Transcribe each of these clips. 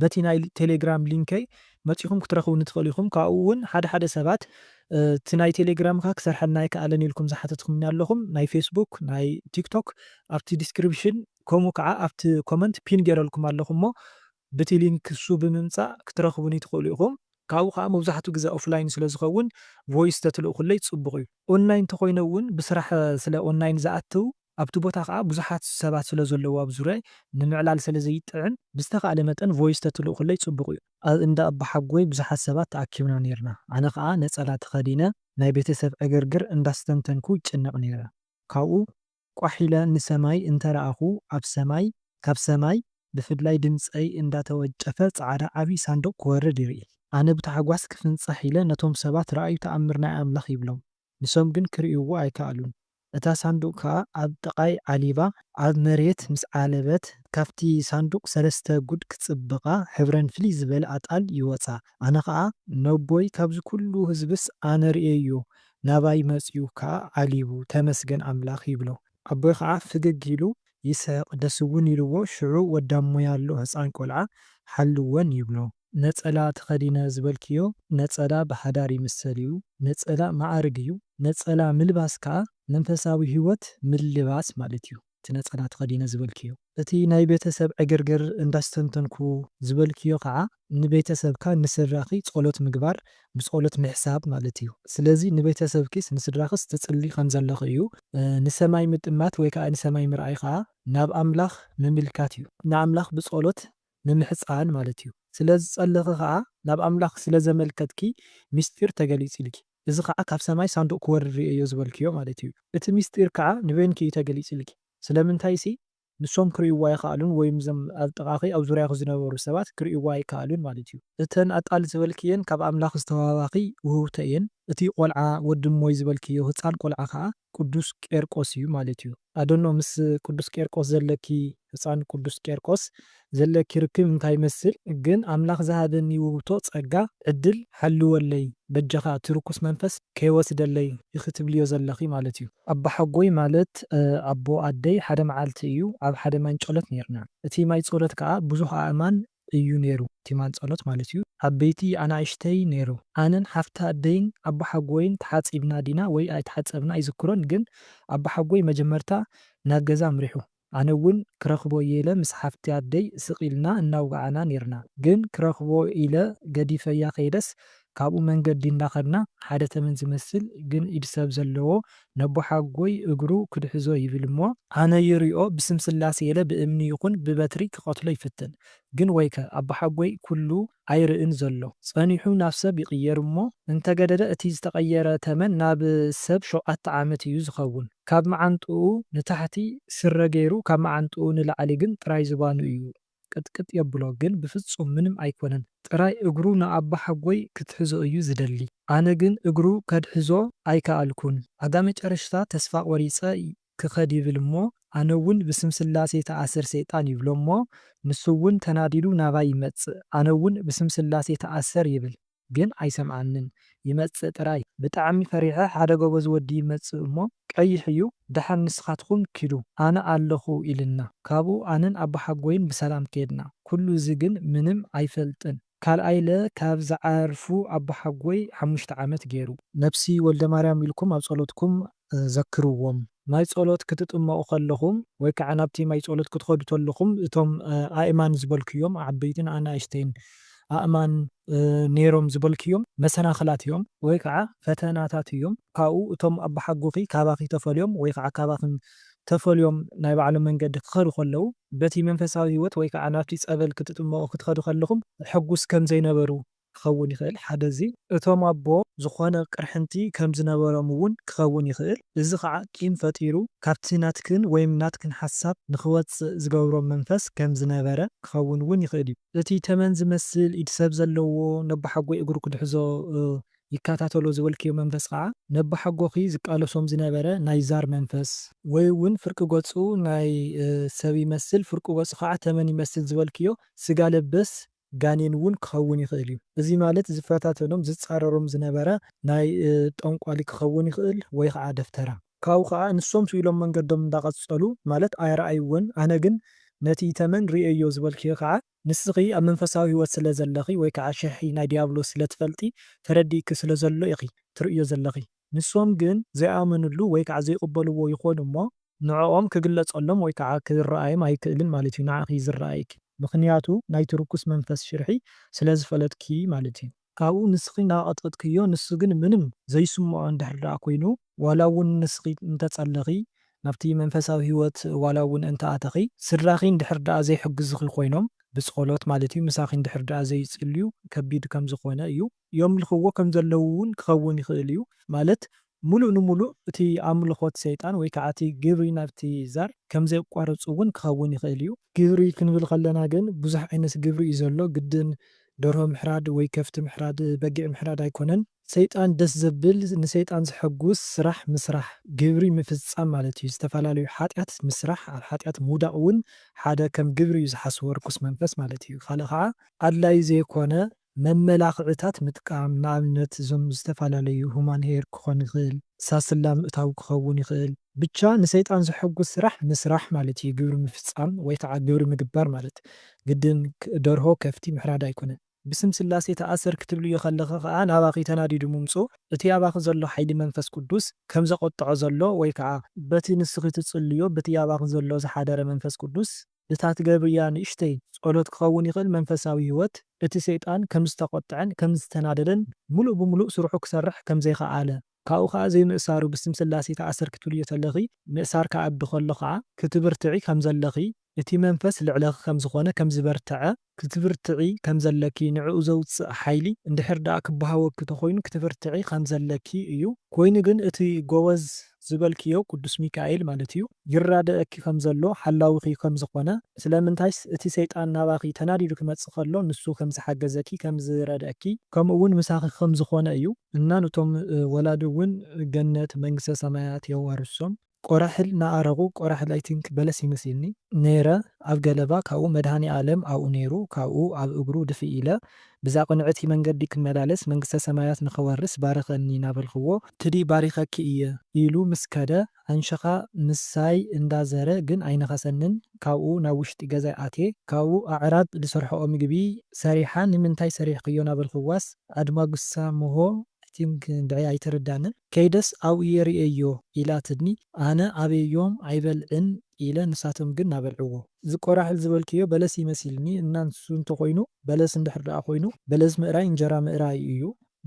በቲ ናይ ቴሌግራም ሊንከይ መጺኹም ክትረኽቡኒ ትኽእሉ ኢኹም። ካብኡ ውን ሓደ ሓደ ሰባት እቲ ናይ ቴሌግራም እካ ክሰርሐልና ኣይከኣለን ኢልኩም ዝሓተትኩምኒ ኣለኹም። ናይ ፌስቡክ ናይ ቲክቶክ ኣብቲ ዲስክሪፕሽን ከምኡ ክዓ ኣብቲ ኮመንት ፒን ጌረልኩም ኣለኹ እሞ ብቲ ሊንክ እሱ ብምምጻእ ክትረኽቡኒ ትኽእሉ ኢኹም። ካብኡ ክዓ መብዛሕቱ ግዘ ኦፍላይን ስለ ዝኸውን ቮይስ ተትልእኹለይ ጽቡቕ እዩ። ኦንላይን ተኾይነ ውን ብስራሕ ስለ ኦንላይን ዝኣትው ኣብቲ ቦታ ከኣ ብዙሓት ሰባት ስለ ዘለዉ ኣብ ዙርያይ ንምዕላል ስለ ዘይጥዕም ብዝተኻእለ መጠን ቮይስ ተትልእኹለይ ጽቡቕ እዩ። ኣብ እንዳ ኣቦሓጎይ ብዙሓት ሰባት ተኣኪብና ኔርና ኣነ ከኣ ነጸላ ተኸዲነ ናይ ቤተሰብ ዕግርግር እንዳስተንተንኩ ይጭነቕ ኔረ ካብኡ ቋሕ ኢለ ንሰማይ እንተ ረኣኹ ኣብ ሰማይ ካብ ሰማይ ብፍላይ ድምጸይ እንዳ ተወንጨፈ ጻዕዳ ዓቢ ሳንዱቕ ክወርድ ይርኢ ኣነ ብታሕጓስ ክፍንጻሕ ኢለ ነቶም ሰባት ረኣዩ ተኣምር ናይ ኣምላኽ ይብሎም ንሶም ግን ክርእይዎ ኣይከኣሉን። እታ ሳንዱቕ ከኣ ኣብ ጥቓይ ዓሊባ ኣብ መሬት ምስ ዓለበት፣ ካብቲ ሳንዱቕ ሰለስተ ጉድ ክጽብቓ ሕብረን ፍልይ ዝበለ ኣጣል ይወጻ። ኣነ ከኣ ነቦይ ካብዚ ኩሉ ህዝብስ ኣነ ርእየዮ ናባይ መጽዩ ከኣ ዓሊቡ ተመስገን ኣምላኽ ይብሎ። ኣቦይ ከኣ ፍግግ ኢሉ ይስሕቕ ደስውን ኢልዎ ሽዑ ወዳሞይ ኣሎ ህጻን ቆልዓ ሓልወን ይብሎ። ነጸላ ተኸዲነ ዝበልክዮ ነጸላ ብሓዳር ይምሰል እዩ፣ ነጸላ መዓርግ እዩ፣ ነጸላ ምልባስ ከኣ መንፈሳዊ ሕይወት ምልባስ ማለት እዩ፣ እቲ ነጸላ ተኸዲነ ዝበልክዮ። እቲ ናይ ቤተሰብ ዕግርግር እንዳስተንተንኩ ዝበልክዮ ከኣ ንቤተሰብካ ንስድራኺ ጸሎት ምግባር ብጸሎት ምሕሳብ ማለት እዩ፣ ስለዚ ንቤተሰብኪስ ንስድራኽስ ትጽልዪ ከም ዘለኺ እዩ፣ ንሰማይ ምጥማት ወይ ከኣ ንሰማይ ምርኣይ ከኣ ናብ ኣምላኽ ምምልካት እዩ፣ ንኣምላኽ ብጸሎት ንምሕጻን ማለት እዩ። ስለ ዝጸለኺ ከኣ ናብ ኣምላኽ ስለ ዘመልከትኪ ምስጢር ተገሊጽልኪ። እዚ ከኣ ካብ ሰማይ ሳንዱቕ ክወርድ ርእየዮ ዝበልክዮ ማለት እዩ። እቲ ምስጢር ከኣ ንበይንኪ እዩ ተገሊጽልኪ። ስለምንታይሲ ንሶም ክርእይዎ ኣይኸኣሉን ወይም እዞም ኣብ ጥቓኺ ኣብ ዙርያኺ ዝነበሩ ሰባት ክርእይዎ ኣይከኣሉን ማለት እዩ። እተን ኣጣል ዝበልክየን ካብ ኣምላኽ ዝተዋህባኺ ውህብቶ እየን። እቲ ቆልዓ ወዲ እሞይ ዝበልክዮ ህጻን ቆልዓ ከኣ ቅዱስ ቄርቆስ እዩ ማለት እዩ ኣዶኖ ምስ ቅዱስ ቄርቆስ ዘለኪ ህጻን ቅዱስ ቄርቆስ ዘለኪ ርክብ እንታይ ይመስል ግን ኣምላኽ ዝሃበኒ ውብቶ ጸጋ ዕድል ሓልወለይ በጃኻ እቲ ርኩስ መንፈስ ከይወስደለይ ኢኺ ትብልዮ ዘለኺ ማለት እዩ። ኣቦሓጎይ ማለት ኣቦ ኣደይ ሓደ መዓልቲ እዩ ኣብ ሓደ ማይ ንጨሎት ኔርና እቲ ማይ ጸሎት ከኣ ብዙህ ኣእማን እዩ ነይሩ ቲማን ጸሎት ማለት እዩ ዓበይቲ ኣናእሽተይ ነይሩ ኣነን ሓፍቲ ኣደይን ኣቦሓጎይን ተሓጺብና ዲና ወይ ኣይተሓጸብና ኣይዝክሮን ግን ኣቦሓጎይ መጀመርታ ናብ ገዛ ኣምሪሑ ኣነ ውን ክረክቦ እየ ኢለ ምስ ሓፍቲ ኣደይ ስቅ ኢልና እናውጋዓና ነይርና ግን ክረክቦ ኢለ ገዲፈያ ከይደስ ካብኡ መንገዲ እንዳኸድና ሓደ ተመን ዝመስል ግን ኢድ ሰብ ዘለዎ ነቦሓጎይ እግሩ ክድሕዞ ይብል እሞ፣ ኣነ ይሪኦ ብስም ስላሴ ኢለ ብእምኒ ይኹን ብበትሪ ክቐትሎ ይፍትን ግን ወይከ ኣቦሓጎይ ኩሉ ኣይርእን ዘሎ ጸኒሑ ናብ ሰብ ይቕየር እሞ እንተገደደ እቲ ዝተቐየረ ተመን ናብ ሰብ ሸውዓተ ዓመት እዩ ዝኸውን ካብ መዓንጥኡ ንታሕቲ ስረ ገይሩ ካብ መዓንጥኡ ንላዕሊ ግን ጥራይ ዝባኑ እዩ ቅጥቅጥ የብሎ ግን ብፍጹም ምንም ኣይኮነን ጥራይ እግሩ ንኣባሓጎይ ክትሕዞ እዩ ዝደሊ ኣነ ግን እግሩ ከድሕዞ ኣይካኣልኩን ኣጋመጨረሽታ ተስፋ ቆሪጸ ክከድ ይብል እሞ ኣነውን ብስም ስላሴ ታኣሰር ሰይጣን ይብሎ እሞ ንሱውን ተናዲዱ ናባይ ይመጽእ ኣነውን ብስም ስላሴ ታኣሰር ይብል ግን ኣይሰምዓንን ይመጽእ ጥራይ። ብጣዕሚ ፈሪሐ ሓደ ጎበዝ ወዲ ይመጽእ እሞ ቀይሕ እዩ ደሓን ንስኻትኹም ኪዱ ኣነ ኣለኹ ኢልና ካብኡ ኣነን ኣቦሓጎይን ብሰላም ከድና ኩሉ እዚ ግን ምንም ኣይፈልጥን ካልኣይ ለ ካብ ዝዓርፉ ኣቦሓጎይ ሓሙሽተ ዓመት ጌሩ ነብሲ ወልደማርያም ኢልኩም ኣብ ጸሎትኩም ዘክርዎም። ማይ ጸሎት ክትጥመቑ ከለኹም ወይ ከኣ ናብቲ ማይ ጸሎት ክትኸዱ ከለኹም እቶም ኣእማን ዝበልክዮም ዓበይትን ኣናእሽተይን ኣእማን ኔሮም ዝበልክዮም መሰናኽላት እዮም ወይ ከኣ ፈተናታት እዮም ካብኡ እቶም ኣባሓጎኺ ካባኺ ተፈልዮም ወይ ከኣ ካባኽን ተፈልዮም ናይ ባዕሎም መንገዲ ክኸዱ ከለዉ በቲ መንፈሳዊ ህይወት ወይ ከኣ ናብቲ ጸበል ክትጥመቑ ክትኸዱ ከለኹም ሕጉስ ከምዘይነበሩ ክኸውን ይኽእል፣ ሓደ እዚ። እቶም ኣቦ ዝኾነ ቅርሕንቲ ከም ዝነበሮም እውን ክኸውን ይኽእል፣ እዚ ኸዓ ቂም ፈጢሩ ካብቲ ናትክን ወይም ናትክን ሓሳብ ንኽወጽእ ዝገብሮ መንፈስ ከም ዝነበረ ክኸውን እውን ይኽእል እዩ። እቲ ተመን ዝመስል ኢድ ሰብ ዘለዎ ነቦሓጎይ እግሩ ክድሕዞ ይከታተሎ ዝበልክዮ መንፈስ ኸዓ ነቦሓጎኺ ዝቃለሶም ዝነበረ ናይ ዛር መንፈስ፣ ወይ እውን ፍርቂ ገጹ ናይ ሰብ ይመስል ፍርቂ ገጹ ኸዓ ተመን ይመስል ዝበልክዮ ስጋ ለበስ ጋኔን እውን ክኸውን ይኽእል እዩ። እዚ ማለት ዝፈታተኖም፣ ዝጻረሮም ዝነበረ ናይ ጠንቋሊ ክኸውን ይኽእል ወይ ኸዓ ደፍተራ። ካብኡ ኸዓ ንሶም ስኡ ኢሎም መንገዶም እንዳቐጸሉ ማለት ኣይረኣይዎን፣ ኣነ ግን ነቲ ተመን ርእየዮ ዝበልክዮ ኸዓ፣ ንስኺ ኣብ መንፈሳዊ ሕይወት ስለ ዘለኺ ወይ ከኣ ሽርሒ ናይ ድያብሎስ ስለ ትፈልጢ ተረዲእኪ ስለ ዘሎ ኢኺ ትርእዮ ዘለኺ። ንሶም ግን ዘይኣመንሉ ወይ ከኣ ዘይቕበልዎ ይኾኑ እሞ፣ ንዕኦም ክግለጸሎም ወይ ከኣ ክርኣዮም ኣይክእልን ማለት እዩ ንዓኺ እዩ ዝርኣየኪ ምኽንያቱ ናይቲ ርኩስ መንፈስ ሽርሒ ስለ ዝፈለጥኪ ማለት እዩ። ካብኡ ንስኺ እናቐጥቀጥክዮ ንሱ ግን ምንም ዘይስምዖ እንድሕር ደኣ ኮይኑ ዋላ እውን ንስኺ እንተጸለኺ ናብቲ መንፈሳዊ ህይወት ዋላ እውን እንተ ኣተኺ ስድራኺ እንድሕር ደኣ ዘይሕግዙኺ ኮይኖም ብጸሎት ማለት እዩ ምሳኺ እንድሕር ደኣ ዘይጽልዩ ከቢድ ከም ዝኾነ እዩ። የምልኽዎ ከም ዘለዉ እውን ክኸውን ይኽእል እዩ፣ ማለት ምሉእ ንምሉእ እቲ ኣምልኾት ሰይጣን ወይ ከዓ እቲ ግብሪ ናብቲ ዛር ከም ዘየቋርፅ እውን ክኸውን ይኽእል እዩ። ግብሪ ክንብል ከለና ግን ብዙሕ ዓይነት ግብሪ እዩ ዘሎ፣ ግድን ደርሆ ምሕራድ ወይ ከፍቲ ምሕራድ፣ በጊዕ ምሕራድ ኣይኮነን። ሰይጣን ደስ ዘብል፣ ንሰይጣን ዘሐጉስ ስራሕ ምስራሕ፣ ግብሪ ምፍፃም ማለት እዩ። ዝተፈላለዩ ሓጢኣት ምስራሕ፣ ኣብ ሓጢኣት ምውዳቕ እውን ሓደ ከም ግብሪ እዩ ዝሓስቦ ርኩስ መንፈስ ማለት እዩ። ኻልእ ከዓ ኣድላዪ ዘይኮነ መመላኽዕታት ምጥቃም፣ ንኣብነት እዞም ዝተፈላለዩ ሁማን ሄር ክኾን ይኽእል፣ ሳስላ ምእታው ክኸውን ይኽእል፣ ብቻ ንሰይጣን ዘሐጉስ ስራሕ ምስራሕ ማለት እዩ ግብሪ ምፍፃም ወይ ከዓ ግብሪ ምግባር ማለት ግድን ደርሆ ከፍቲ ምሕራድ ኣይኮነን። ብስም ስላሴ ተኣሰር ክትብልዮ ከለኺ ከዓ ናባኺ ተናዲዱ ምምፅኡ እቲ ኣባኺ ዘሎ ሓይሊ መንፈስ ቅዱስ ከም ዘቖጠዖ ዘሎ ወይ ከዓ። በቲ ንስኺ ትፅልይዮ በቲ ኣባኺ ዘሎ ዝሓደረ መንፈስ ቅዱስ። እታ ትገብርያ ንእሽተይ ጸሎት ክኸውን ይኽእል መንፈሳዊ ህይወት እቲ ሰይጣን ከም ዝተቖጥዐን ከም ዝተናደደን ምሉእ ብምሉእ ስርሑ ክሰርሕ ከም ዘይኸኣለ ካብኡ ከኣ ዘይምእሳሩ ብስም ስላሴ ተኣሰር ክትብልዮ ተለኺ ምእሳር ክኣቢ ከሎ ከኣ ክትብርትዒ ከም ዘለኺ እቲ መንፈስ ልዕለኺ ከም ዝኾነ ከም ዝበርተዐ ክትብርትዒ ከም ዘለኪ ንዕኡ ዘውጽእ ሓይሊ እንድሕር ደኣ ክበሃወኪ ተኾይኑ ክትብርትዒ ከም ዘለኪ እዩ። ኮይኑ ግን እቲ ጎበዝ ዝበልክዮ ቅዱስ ሚካኤል ማለት እዩ ይራደኣኪ ከም ዘሎ ሓላዊኺ ከም ዝኾነ ስለምንታይስ እቲ ሰይጣን ናባኺ ተናዲዱ ክመጽእ ከሎ ንሱ ከም ዝሓገዘኪ ከም ዝረድኣኪ ከምኡ ውን ምሳኺ ከም ዝኾነ እዩ እና ንቶም ወላዲ ውን ገነት መንግስተ ሰማያት የዋርሶም። ቆራሕል ናኣረጉ ቆራሕል ኣይ ቲንክ በለስ እዩ መሲልኒ። ነይረ ኣብ ገለባ ካብኡ መድሃኒኣለም ኣብኡ ነይሩ ካብኡ ኣብ እግሩ ድፍእ ኢለ ብዛ ቅንዕቲ መንገዲ ክመላለስ መንግስተ ሰማያት ንክወርስ ባርኸኒ ናበልክዎ፣ ትዲ ባሪኸኪ እየ ኢሉ ምስ ከደ ኣንሽኻ ምሳይ እንዳ ዘረ ግን ኣይነኸሰንን ካብኡ ናብ ውሽጢ ገዛይ ኣትየ ካብኡ ኣዕራብ ድሰርሕኦ ምግቢ ሰሪሓ ንምንታይ ሰሪሕክዮ ናበልክዋስ ኣድማጉሳ ምሆ ኣይቲንክ እንድዒ ኣይተረዳንን ከይደስ ኣብኡ የርእየዮ ኢላ ትድኒ ኣነ ኣበዮም ኣይበልዕን ኢለ ንሳቶም ግን ናበልዕዎ። እዚ ቆራሕል ዝበልክዮ በለስ እዩ መሲልኒ እና ንሱ እንተኮይኑ በለስ እንድሕር ደኣ ኮይኑ በለስ ምእራይ እንጀራ ምእራይ እዩ።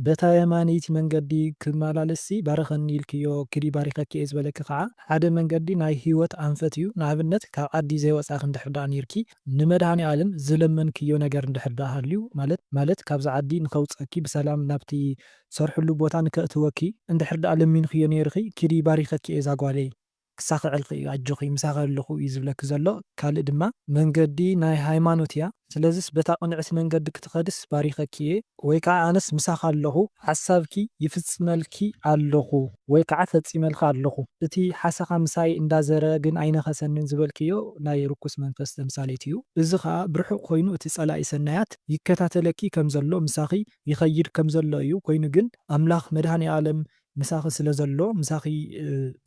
በታ የማነይቲ መንገዲ ክመላለስ ሲ ባርኸኒ ኢልክዮ ክዲ ባሪኸኪ እየ ዝበለኪ ካዓ ሓደ መንገዲ ናይ ሂወት ኣንፈት እዩ ንኣብነት ካብ ዓዲ ዘይወፃኪ እንድሕር ደኣ ነይርኪ ንመድሃኒኣለም ዝለመንክዮ ነገር እንድሕር ደኣ ሃልዩ ማለት ማለት ካብዛ ዓዲ ንከውጸኪ ብሰላም ናብቲ ትሰርሕሉ ቦታ ንከእትወኪ እንድሕር ደኣ ለሚንክዮ ኔርኺ ኪዲ ባሪኸኪ እየ ዛጓለይ ክሳኽዐልኺ እዩ ኣጆኺ ምሳኺ ኣለኹ እዩ ዝብለኪ ዘሎ ካልእ ድማ መንገዲ ናይ ሃይማኖት እያ ስለዝስ በታ ቅንዕቲ መንገዲ ክትኸድስ ባሪኸኪ እየ ወይ ከዓ ኣነስ ምሳኺ ኣለኹ ሓሳብኪ ይፍፅመልኪ ኣለኹ ወይ ከዓ ፈፂመልኺ ኣለኹ እቲ ሓሰኻ ምሳይ እንዳዘረ ግን ኣይነኸሰንን ዝበልክዮ ናይ ርኩስ መንፈስ ተምሳሌት እዩ እዚ ከዓ ብርሑቕ ኮይኑ እቲ ፀላኢ ሰናያት ይከታተለኪ ከም ዘሎ ምሳኺ ይኸይድ ከም ዘሎ እዩ ኮይኑ ግን ኣምላኽ መድኃኒኣለም ምሳኺ ስለ ዘሎ ምሳኺ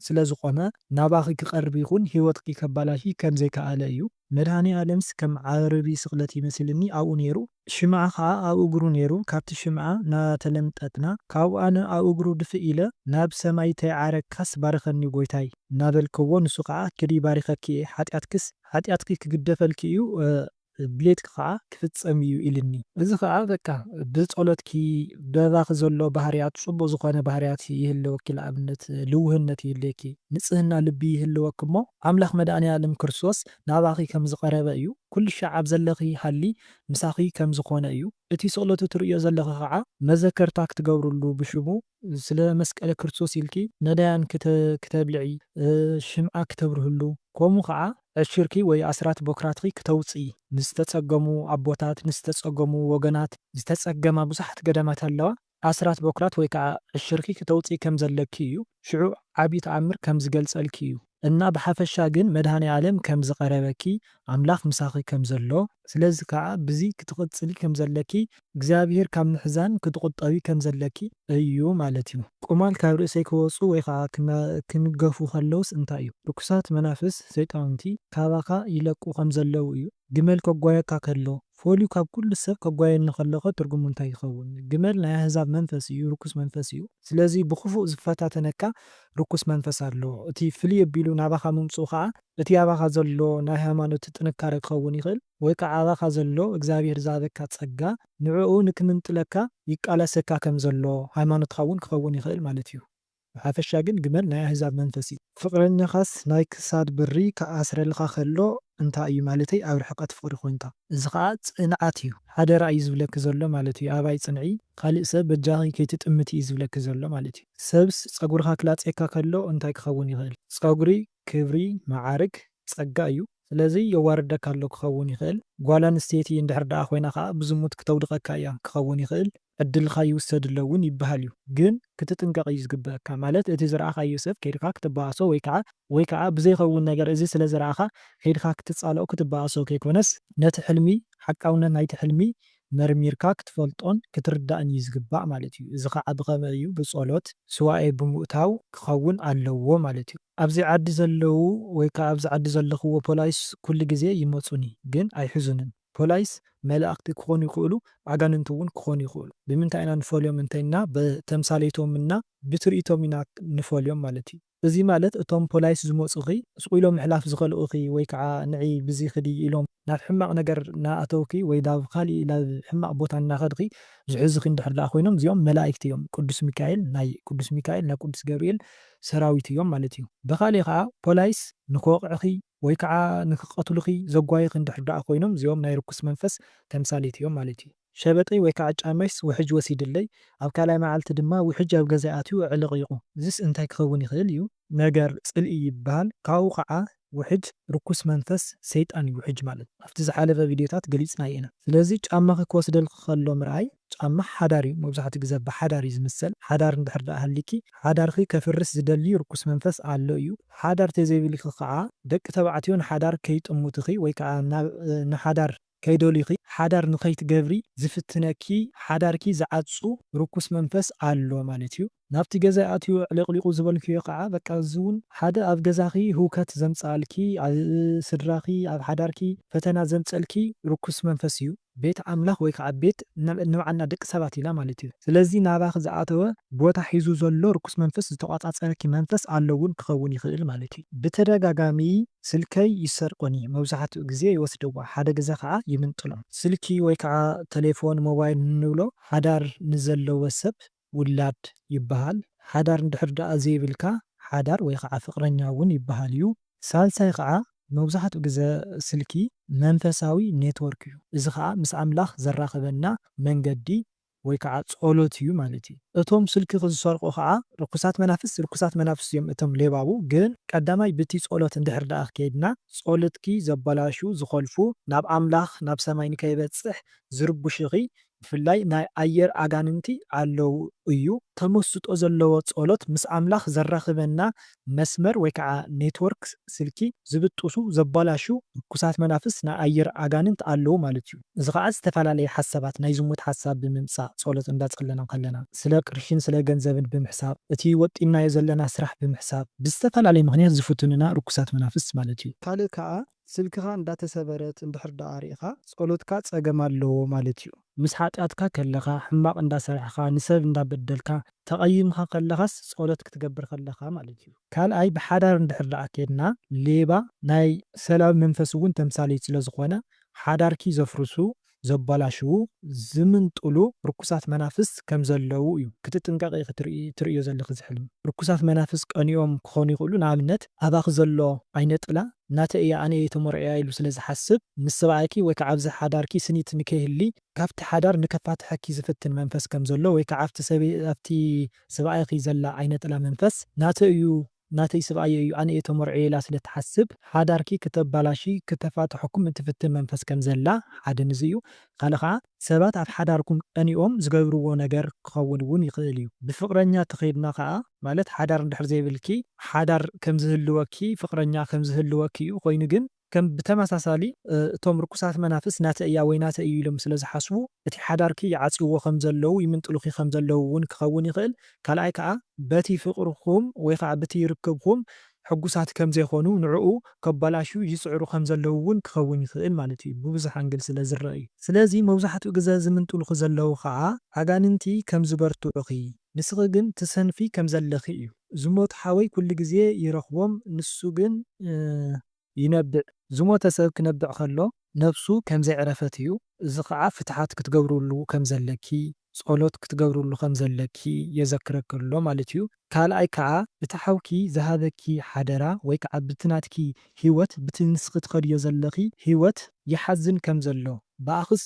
ስለ ዝቆመ ናባኺ ክቀርብ ይኹን ህይወትኪ ከባላሺ ከም ዘይከኣለ እዩ። መድኃኔዓለምስ ከም ዓርቢ ስቕለት ይመስልኒ ኣብኡ ነይሩ፣ ሽምዓ ኸኣ ኣብ እግሩ ነይሩ፣ ካብቲ ሽምዓ እናተለምጠጥና ካብኡ ኣነ ኣብ እግሩ ድፍእ ኢለ ናብ ሰማይ ተይዓረግካስ ባርኸኒ ጐይታይ እናበልክዎ ንሱ ኸኣ ኪዲ ባሪኸኪ እየ ኃጢኣትክስ ኃጢኣትኪ ክግደፈልኪ እዩ ድሌትኪ ኸኣ ክፍጸም እዩ ኢሉኒ። እዚ ኸኣ በቃ ብጸሎትኪ በባኺ ዘሎ ባህርያት ጽቡቕ ዝኾነ ባህርያት ይህልወኪ ንኣብነት ልውህነት ይህልየኪ ንጽህና ልቢ ይህልወኪ እሞ ኣምላኽ መድኣኒኣለም ክርስቶስ ናባኺ ከም ዝቐረበ እዩ፣ ኩሉ ሻዕ ኣብ ዘለኺ ሃሊ ምሳኺ ከም ዝኾነ እዩ፣ እቲ ስቕለቱ ትርእዮ ዘለኺ ኸዓ መዘከርታ ክትገብርሉ ብሽሙ ስለ መስቀለ ክርስቶስ ኢልኪ ነዳያን ክተብልዒ፣ ሽምዓ ክተብርህሉ፣ ከምኡ ኸዓ ዕሽርኪ ወይ ኣስራት ቦክራትኪ ክተውፅኢ፣ ንዝተፀገሙ ኣቦታት፣ ንዝተፀገሙ ወገናት፣ ዝተፀገማ ብዙሓት ገዳማት ኣለዋ፣ ኣስራት ቦክራት ወይ ከኣ ዕሽርኪ ክተውጽኢ ከም ዘለኪ እዩ ሽዑ ዓቢ ተኣምር ከም ዝገልጸልኪ እዩ እና ብሓፈሻ ግን መድሃኒኣለም ከም ዝቀረበኪ ኣምላኽ ምሳኺ ከም ዘሎ፣ ስለዚ ከኣ ብዚ ክትቅጽሊ ከም ዘለኪ እግዚኣብሄር ካብ ምሕዛን ክትቁጠቢ ከም ዘለኪ እዩ ማለት እዩ። ቁማል ካብ ርእሰይ ክወጹ ወይ ከኣ ክንገፉ ከለውስ እንታይ እዩ ርኩሳት መናፍስ ሰይጣውንቲ ካባኻ ይለቁ ከም ዘለው እዩ ግመል ከጓየካ ከሎ ፈልዩ ካብ ኩሉ ሰብ ከጓየኒ ከሎኸ ትርጉሙ እንታይ ይኸውን? ግመል ናይ ኣህዛብ መንፈስ እዩ፣ ርኩስ መንፈስ እዩ። ስለዚ ብኽፉእ ዝፈታተነካ ርኩስ መንፈስ ኣሎ። እቲ ፍልይ ኣቢሉ ናባኻ ምምጽኡ ከኣ እቲ ኣባኻ ዘሎ ናይ ሃይማኖት ጥንካረ ክኸውን ይኽእል፣ ወይ ከኣ ኣባኻ ዘሎ እግዚኣብሄር ዝሃበካ ጸጋ ንዕኡ ንክምንጥለካ ይቃለሰካ ከም ዘሎ ሃይማኖትካ እውን ክኸውን ይኽእል ማለት እዩ። ብሓፈሻ ግን ግመል ናይ ኣህዛብ መንፈስ እዩ። ፍቅረኛካስ ናይ ክሳድ ብሪ ክኣስረልካ ከሎ እንታይ እዩ ማለተይ ኣብ ርሕቀት ፍቅሪ ኮንካ። እዚ ከኣ ጽንዓት እዩ ሓደራ እዩ ዝብለኪ ዘሎ ማለት እዩ ኣባይ ጽንዒ ካልእ ሰብ በጃኺ ከይትጥምቲ እዩ ዝብለኪ ዘሎ ማለት እዩ። ሰብስ ጸጉርካ ክላጽየካ ከሎ እንታይ ክኸውን ይኽእል? ጸጉሪ ክብሪ መዓርግ ጸጋ እዩ ስለዚ የዋርደካ ኣሎ ክኸውን ይኽእል ጓል ኣንስተይቲ እንድሕር ደኣ ኮይና ከኣ ብዝሙት ክተውድቀካ እያ ክኸውን ይኽእል ዕድልካ ይውሰድ ኣሎ ውን ይብሃል እዩ ግን ክትጥንቀቅ እዩ ዝግበእካ ማለት እቲ ዝረኣኻዮ ሰብ ከይድካ ክትበኣሶ ወይ ከኣ ወይ ከኣ ብዘይኸውን ነገር እዚ ስለ ዝረኣኻ ከይድካ ክትጻልኦ ክትበኣሶ ከይኮነስ ነቲ ሕልሚ ሓቃውነት ናይቲ ሕልሚ መርሚርካ ክትፈልጦን ክትርዳእን እዩ ዝግባእ ማለት እዩ። እዚ ኸዓ ብኸመይ እዩ? ብጸሎት፣ ሱባኤ ብምእታው ክኸውን ኣለዎ ማለት እዩ። ኣብዚ ዓዲ ዘለዉ ወይ ከኣ ኣብዚ ዓዲ ዘለኽዎ ፖላይስ ኩሉ ግዜ ይመጹኒ ግን ኣይሕዙንን። ፖላይስ መላእኽቲ ክኾኑ ይኽእሉ ኣጋንንቲ እውን ክኾኑ ይኽእሉ። ብምንታይ ኢና ንፈልዮም እንተይልና ብተምሳሌቶም እና ብትርኢቶም ኢና ንፈልዮም ማለት እዩ። እዚ ማለት እቶም ፖላይስ ዝመጹኺ ስቁ ኢሎም ምሕላፍ ዝኸልኡኺ ወይ ከኣ ንዒ ብዚ ክዲ ኢሎም ናብ ሕማቅ ነገር ናኣተውኪ ወይ ዳብ ካሊእ ላብ ሕማቅ ቦታ ናኸድኺ ዝሕዙኺ እንድሕር ዳኣ ኮይኖም እዚኦም መላኢክቲ እዮም ቁዱስ ሚካኤል ናይ ቁዱስ ሚካኤል ናይ ቁዱስ ገብሪኤል ሰራዊት እዮም ማለት እዩ ብኻሊእ ከኣ ፖላይስ ንክወቅዕኺ ወይ ከዓ ንክቀትሉኺ ዘጓዩኺ እንድሕር ደኣ ኮይኖም እዚኦም ናይ ርኩስ መንፈስ ተምሳሌት እዮም ማለት እዩ። ሸበጥይ ወይ ከዓ ጫመይስ ውሕጅ ወሲድለይ፣ ኣብ ካልኣይ መዓልቲ ድማ ውሕጅ ኣብ ገዛይ ኣትዩ ኣዕለቕሊቑ። እዚስ እንታይ ክኸውን ይኽእል እዩ? ነገር ፅልኢ ይብሃል። ካብኡ ከዓ ውሕጅ ርኩስ መንፈስ ሰይጣን እዩ ውሕጅ ማለት። ኣብቲ ዝሓለፈ ቪድዮታት ገሊፅናዮ ኢና። ስለዚ ጫማኺ ክወስደልኺ ከሎ ምርኣይ ጫማ ሓዳር እዩ መብዛሕትኡ ግዘ ብሓዳር እዩ ዝምሰል ሓዳር እንድሕር ደኣ ሃሊኪ ሓዳርኪ ከፍርስ ዝደሊ ርኩስ መንፈስ ኣሎ እዩ ሓዳር ተዘይብልኪ ከዓ ደቂ ተባዕትዮ ንሓዳር ከይጥሙትኺ ወይ ከዓ ናብ ንሓዳር ከይደልዩኺ ሓዳር ንከይትገብሪ ዝፍትነኪ ሓዳርኪ ዝዓጹ ርኩስ መንፈስ ኣሎ ማለት እዩ። ናብቲ ገዛይ ኣትዩ ኣዕለቅሊቁ ዝበልክዮ ካዓ በቃ እዚ ውን ሓደ ኣብ ገዛኪ ህውከት ዘምፀኣልኪ ኣብ ስድራኪ ኣብ ሓዳርኪ ፈተና ዘምፀልኪ ርኩስ መንፈስ እዩ ቤት ኣምላክ ወይ ካዓ ቤት ንባዓልና ደቂ ሰባት ኢና ማለት እዩ ስለዚ ናባኪ ዝኣተወ ቦታ ሒዙ ዘሎ ርኩስ መንፈስ ዝተቆፃፀረኪ መንፈስ ኣሎ ውን ክከውን ይክእል ማለት እዩ። ብተደጋጋሚ ስልከይ ይሰርቁኒ መብዛሕትኡ ግዜ ይወስድዋ ሓደ ግዘ ካዓ ይምንጥሎ። ስልኪ ወይ ካዓ ተሌፎን ሞባይል ንብሎ ሓዳር ንዘለወ ሰብ ውላድ ይበሃል። ሓዳር እንድሕር ደኣ ዘይብልካ ሓዳር ወይ ኸዓ ፍቕረኛ እውን ይበሃል እዩ። ሳልሳይ ኸዓ መብዛሕትኡ ግዘ ስልኪ መንፈሳዊ ኔትወርክ እዩ። እዚ ኸዓ ምስ ኣምላኽ ዘራኽበና መንገዲ ወይ ከዓ ፀሎት እዩ ማለት እዩ። እቶም ስልኪ ዝሰርቑ ኸዓ ርኩሳት መናፍስት ርኩሳት መናፍስት እዮም እቶም ሌባቡ ግን ቀዳማይ ብቲ ፀሎት እንድሕር ደኣ ከይድና ፀሎትኪ ዘበላሹ ዝኾልፉ ናብ ኣምላኽ ናብ ሰማይ ንከይበፅሕ ዝርቡሽኺ ብፍላይ ናይ ኣየር ኣጋንንቲ ኣለው እዩ። ተመስጦ ዘለዎ ጸሎት ምስ ኣምላኽ ዘራኽበና መስመር ወይ ከኣ ኔትወርክ ስልኪ ዝብጥሱ ዘባላሹ ርኩሳት መናፍስ ናይ ኣየር ኣጋንንት ኣለው ማለት እዩ። እዚ ከኣ ዝተፈላለየ ሓሳባት ናይ ዝሙት ሓሳብ ብምምጻእ ጸሎት እንዳ ጸለና ከለና ስለ ቅርሽን ስለ ገንዘብን ብምሕሳብ እቲ ወጢንናዮ ዘለና ስራሕ ብምሕሳብ ብዝተፈላለየ ምኽንያት ዝፍትኑና ርኩሳት መናፍስ ማለት እዩ። ካልእ ከኣ ስልክኻ እንዳተሰበረት እንድሕር ደኣ ሪኢኻ ጸሎትካ ጸገም ኣለዎ ማለት እዩ። ምስ ሓጢኣትካ ከለኻ፣ ሕማቕ እንዳ ሰርሕኻ፣ ንሰብ እንዳ በደልካ፣ ተቐይምካ ከለኻስ ጸሎት ክትገብር ከለኻ ማለት እዩ። ካልኣይ ብሓዳር እንድሕር ደኣ ኬድና ሌባ ናይ ሰላቢ መንፈስ እውን ተምሳሌት ስለ ዝኾነ ሓዳርኪ ዘፍርሱ ዘባላሽዉ ዝምንጥሉ ርኩሳት መናፍስት ከም ዘለዉ እዩ ክትጥንቀቂ ኢኪ ትርእዮ ዘለኪ እዚ ሕልሚ ርኩሳት መናፍስት ቀኒኦም ክኮኑ ይክእሉ ንኣብነት ኣባኪ ዘሎ ዓይነ ጥላ ናተይ እያ ኣነ እየ ተሞርዕያ ኢሉ ስለ ዝሓስብ ምስ ሰብኣይኪ ወይ ከዓ ኣብዚ ሓዳርኪ ስኒት ንከይህሊ ካብቲ ሓዳር ንከፋትሐኪ ዝፍትን መንፈስ ከም ዘሎ ወይ ከዓ ኣብቲ ሰብኣይኪ ዘላ ዓይነ ጥላ መንፈስ ናተይ እዩ ናተይ ስብኣየይ እዩ ኣነ እየ ተመርዕየ ኢላ ስለ ትሓስብ ሓዳርኪ ክተባላሺ ክተፋትሐኩም እትፍትን መንፈስ ከም ዘላ ሓደ ንዚ እዩ ካልእ ከኣ ሰባት ኣብ ሓዳርኩም ቀኒኦም ዝገብርዎ ነገር ክኸውን እውን ይኽእል እዩ ብፍቅረኛ ተኸይድና ከኣ ማለት ሓዳር እንድሕር ዘይብልኪ ሓዳር ከም ዝህልወኪ ፍቅረኛ ከም ዝህልወኪ እዩ ኮይኑ ግን ከም ብተመሳሳሊ እቶም ርኩሳት መናፍስት ናተይ እያ ወይ ናተይ እዩ ኢሎም ስለ ዝሓስቡ እቲ ሓዳርኪ ይዓጽውዎ ከም ዘለዉ ይምንጥሉኪ ከም ዘለዉ ውን ክኸውን ይኽእል ካልኣይ ከኣ በቲ ፍቅርኩም ወይ ከኣ ብቲ ርክብኩም ሕጉሳት ከም ዘይኮኑ ንዕኡ ከበላሽዩ ይጽዕሩ ከም ዘለዉ ውን ክኸውን ይኽእል ማለት እዩ ብብዙሕ ኣንግል ስለ ዝረኣ እዩ ስለዚ መብዛሕትኡ ግዘ ዝምንጥሉኪ ዘለዉ ከኣ ኣጋንንቲ ከም ዝበርትዑኪ ንስኺ ግን ትሰንፊ ከም ዘለኺ እዩ። ዝሞት ሓወይ ኩሉ ግዜ ይረኽቦም ንሱ ግን ይነብዕ። ዝሞተ ሰብ ክነብዕ ከሎ ነብሱ ከም ዘየዕረፈት እዩ። እዚ ኸኣ ፍትሓት ክትገብርሉ ከም ዘለኪ፣ ጸሎት ክትገብርሉ ከም ዘለኪ የዘክረኪ ኣሎ ማለት እዩ። ካልኣይ ከኣ እቲ ሓውኪ ዝሃበኪ ሓደራ ወይ ከኣ ብቲ ናትኪ ሂወት ብቲ ንስኺ ትኸድዮ ዘለኺ ሂወት ይሓዝን ከም ዘሎ ብኣኽስ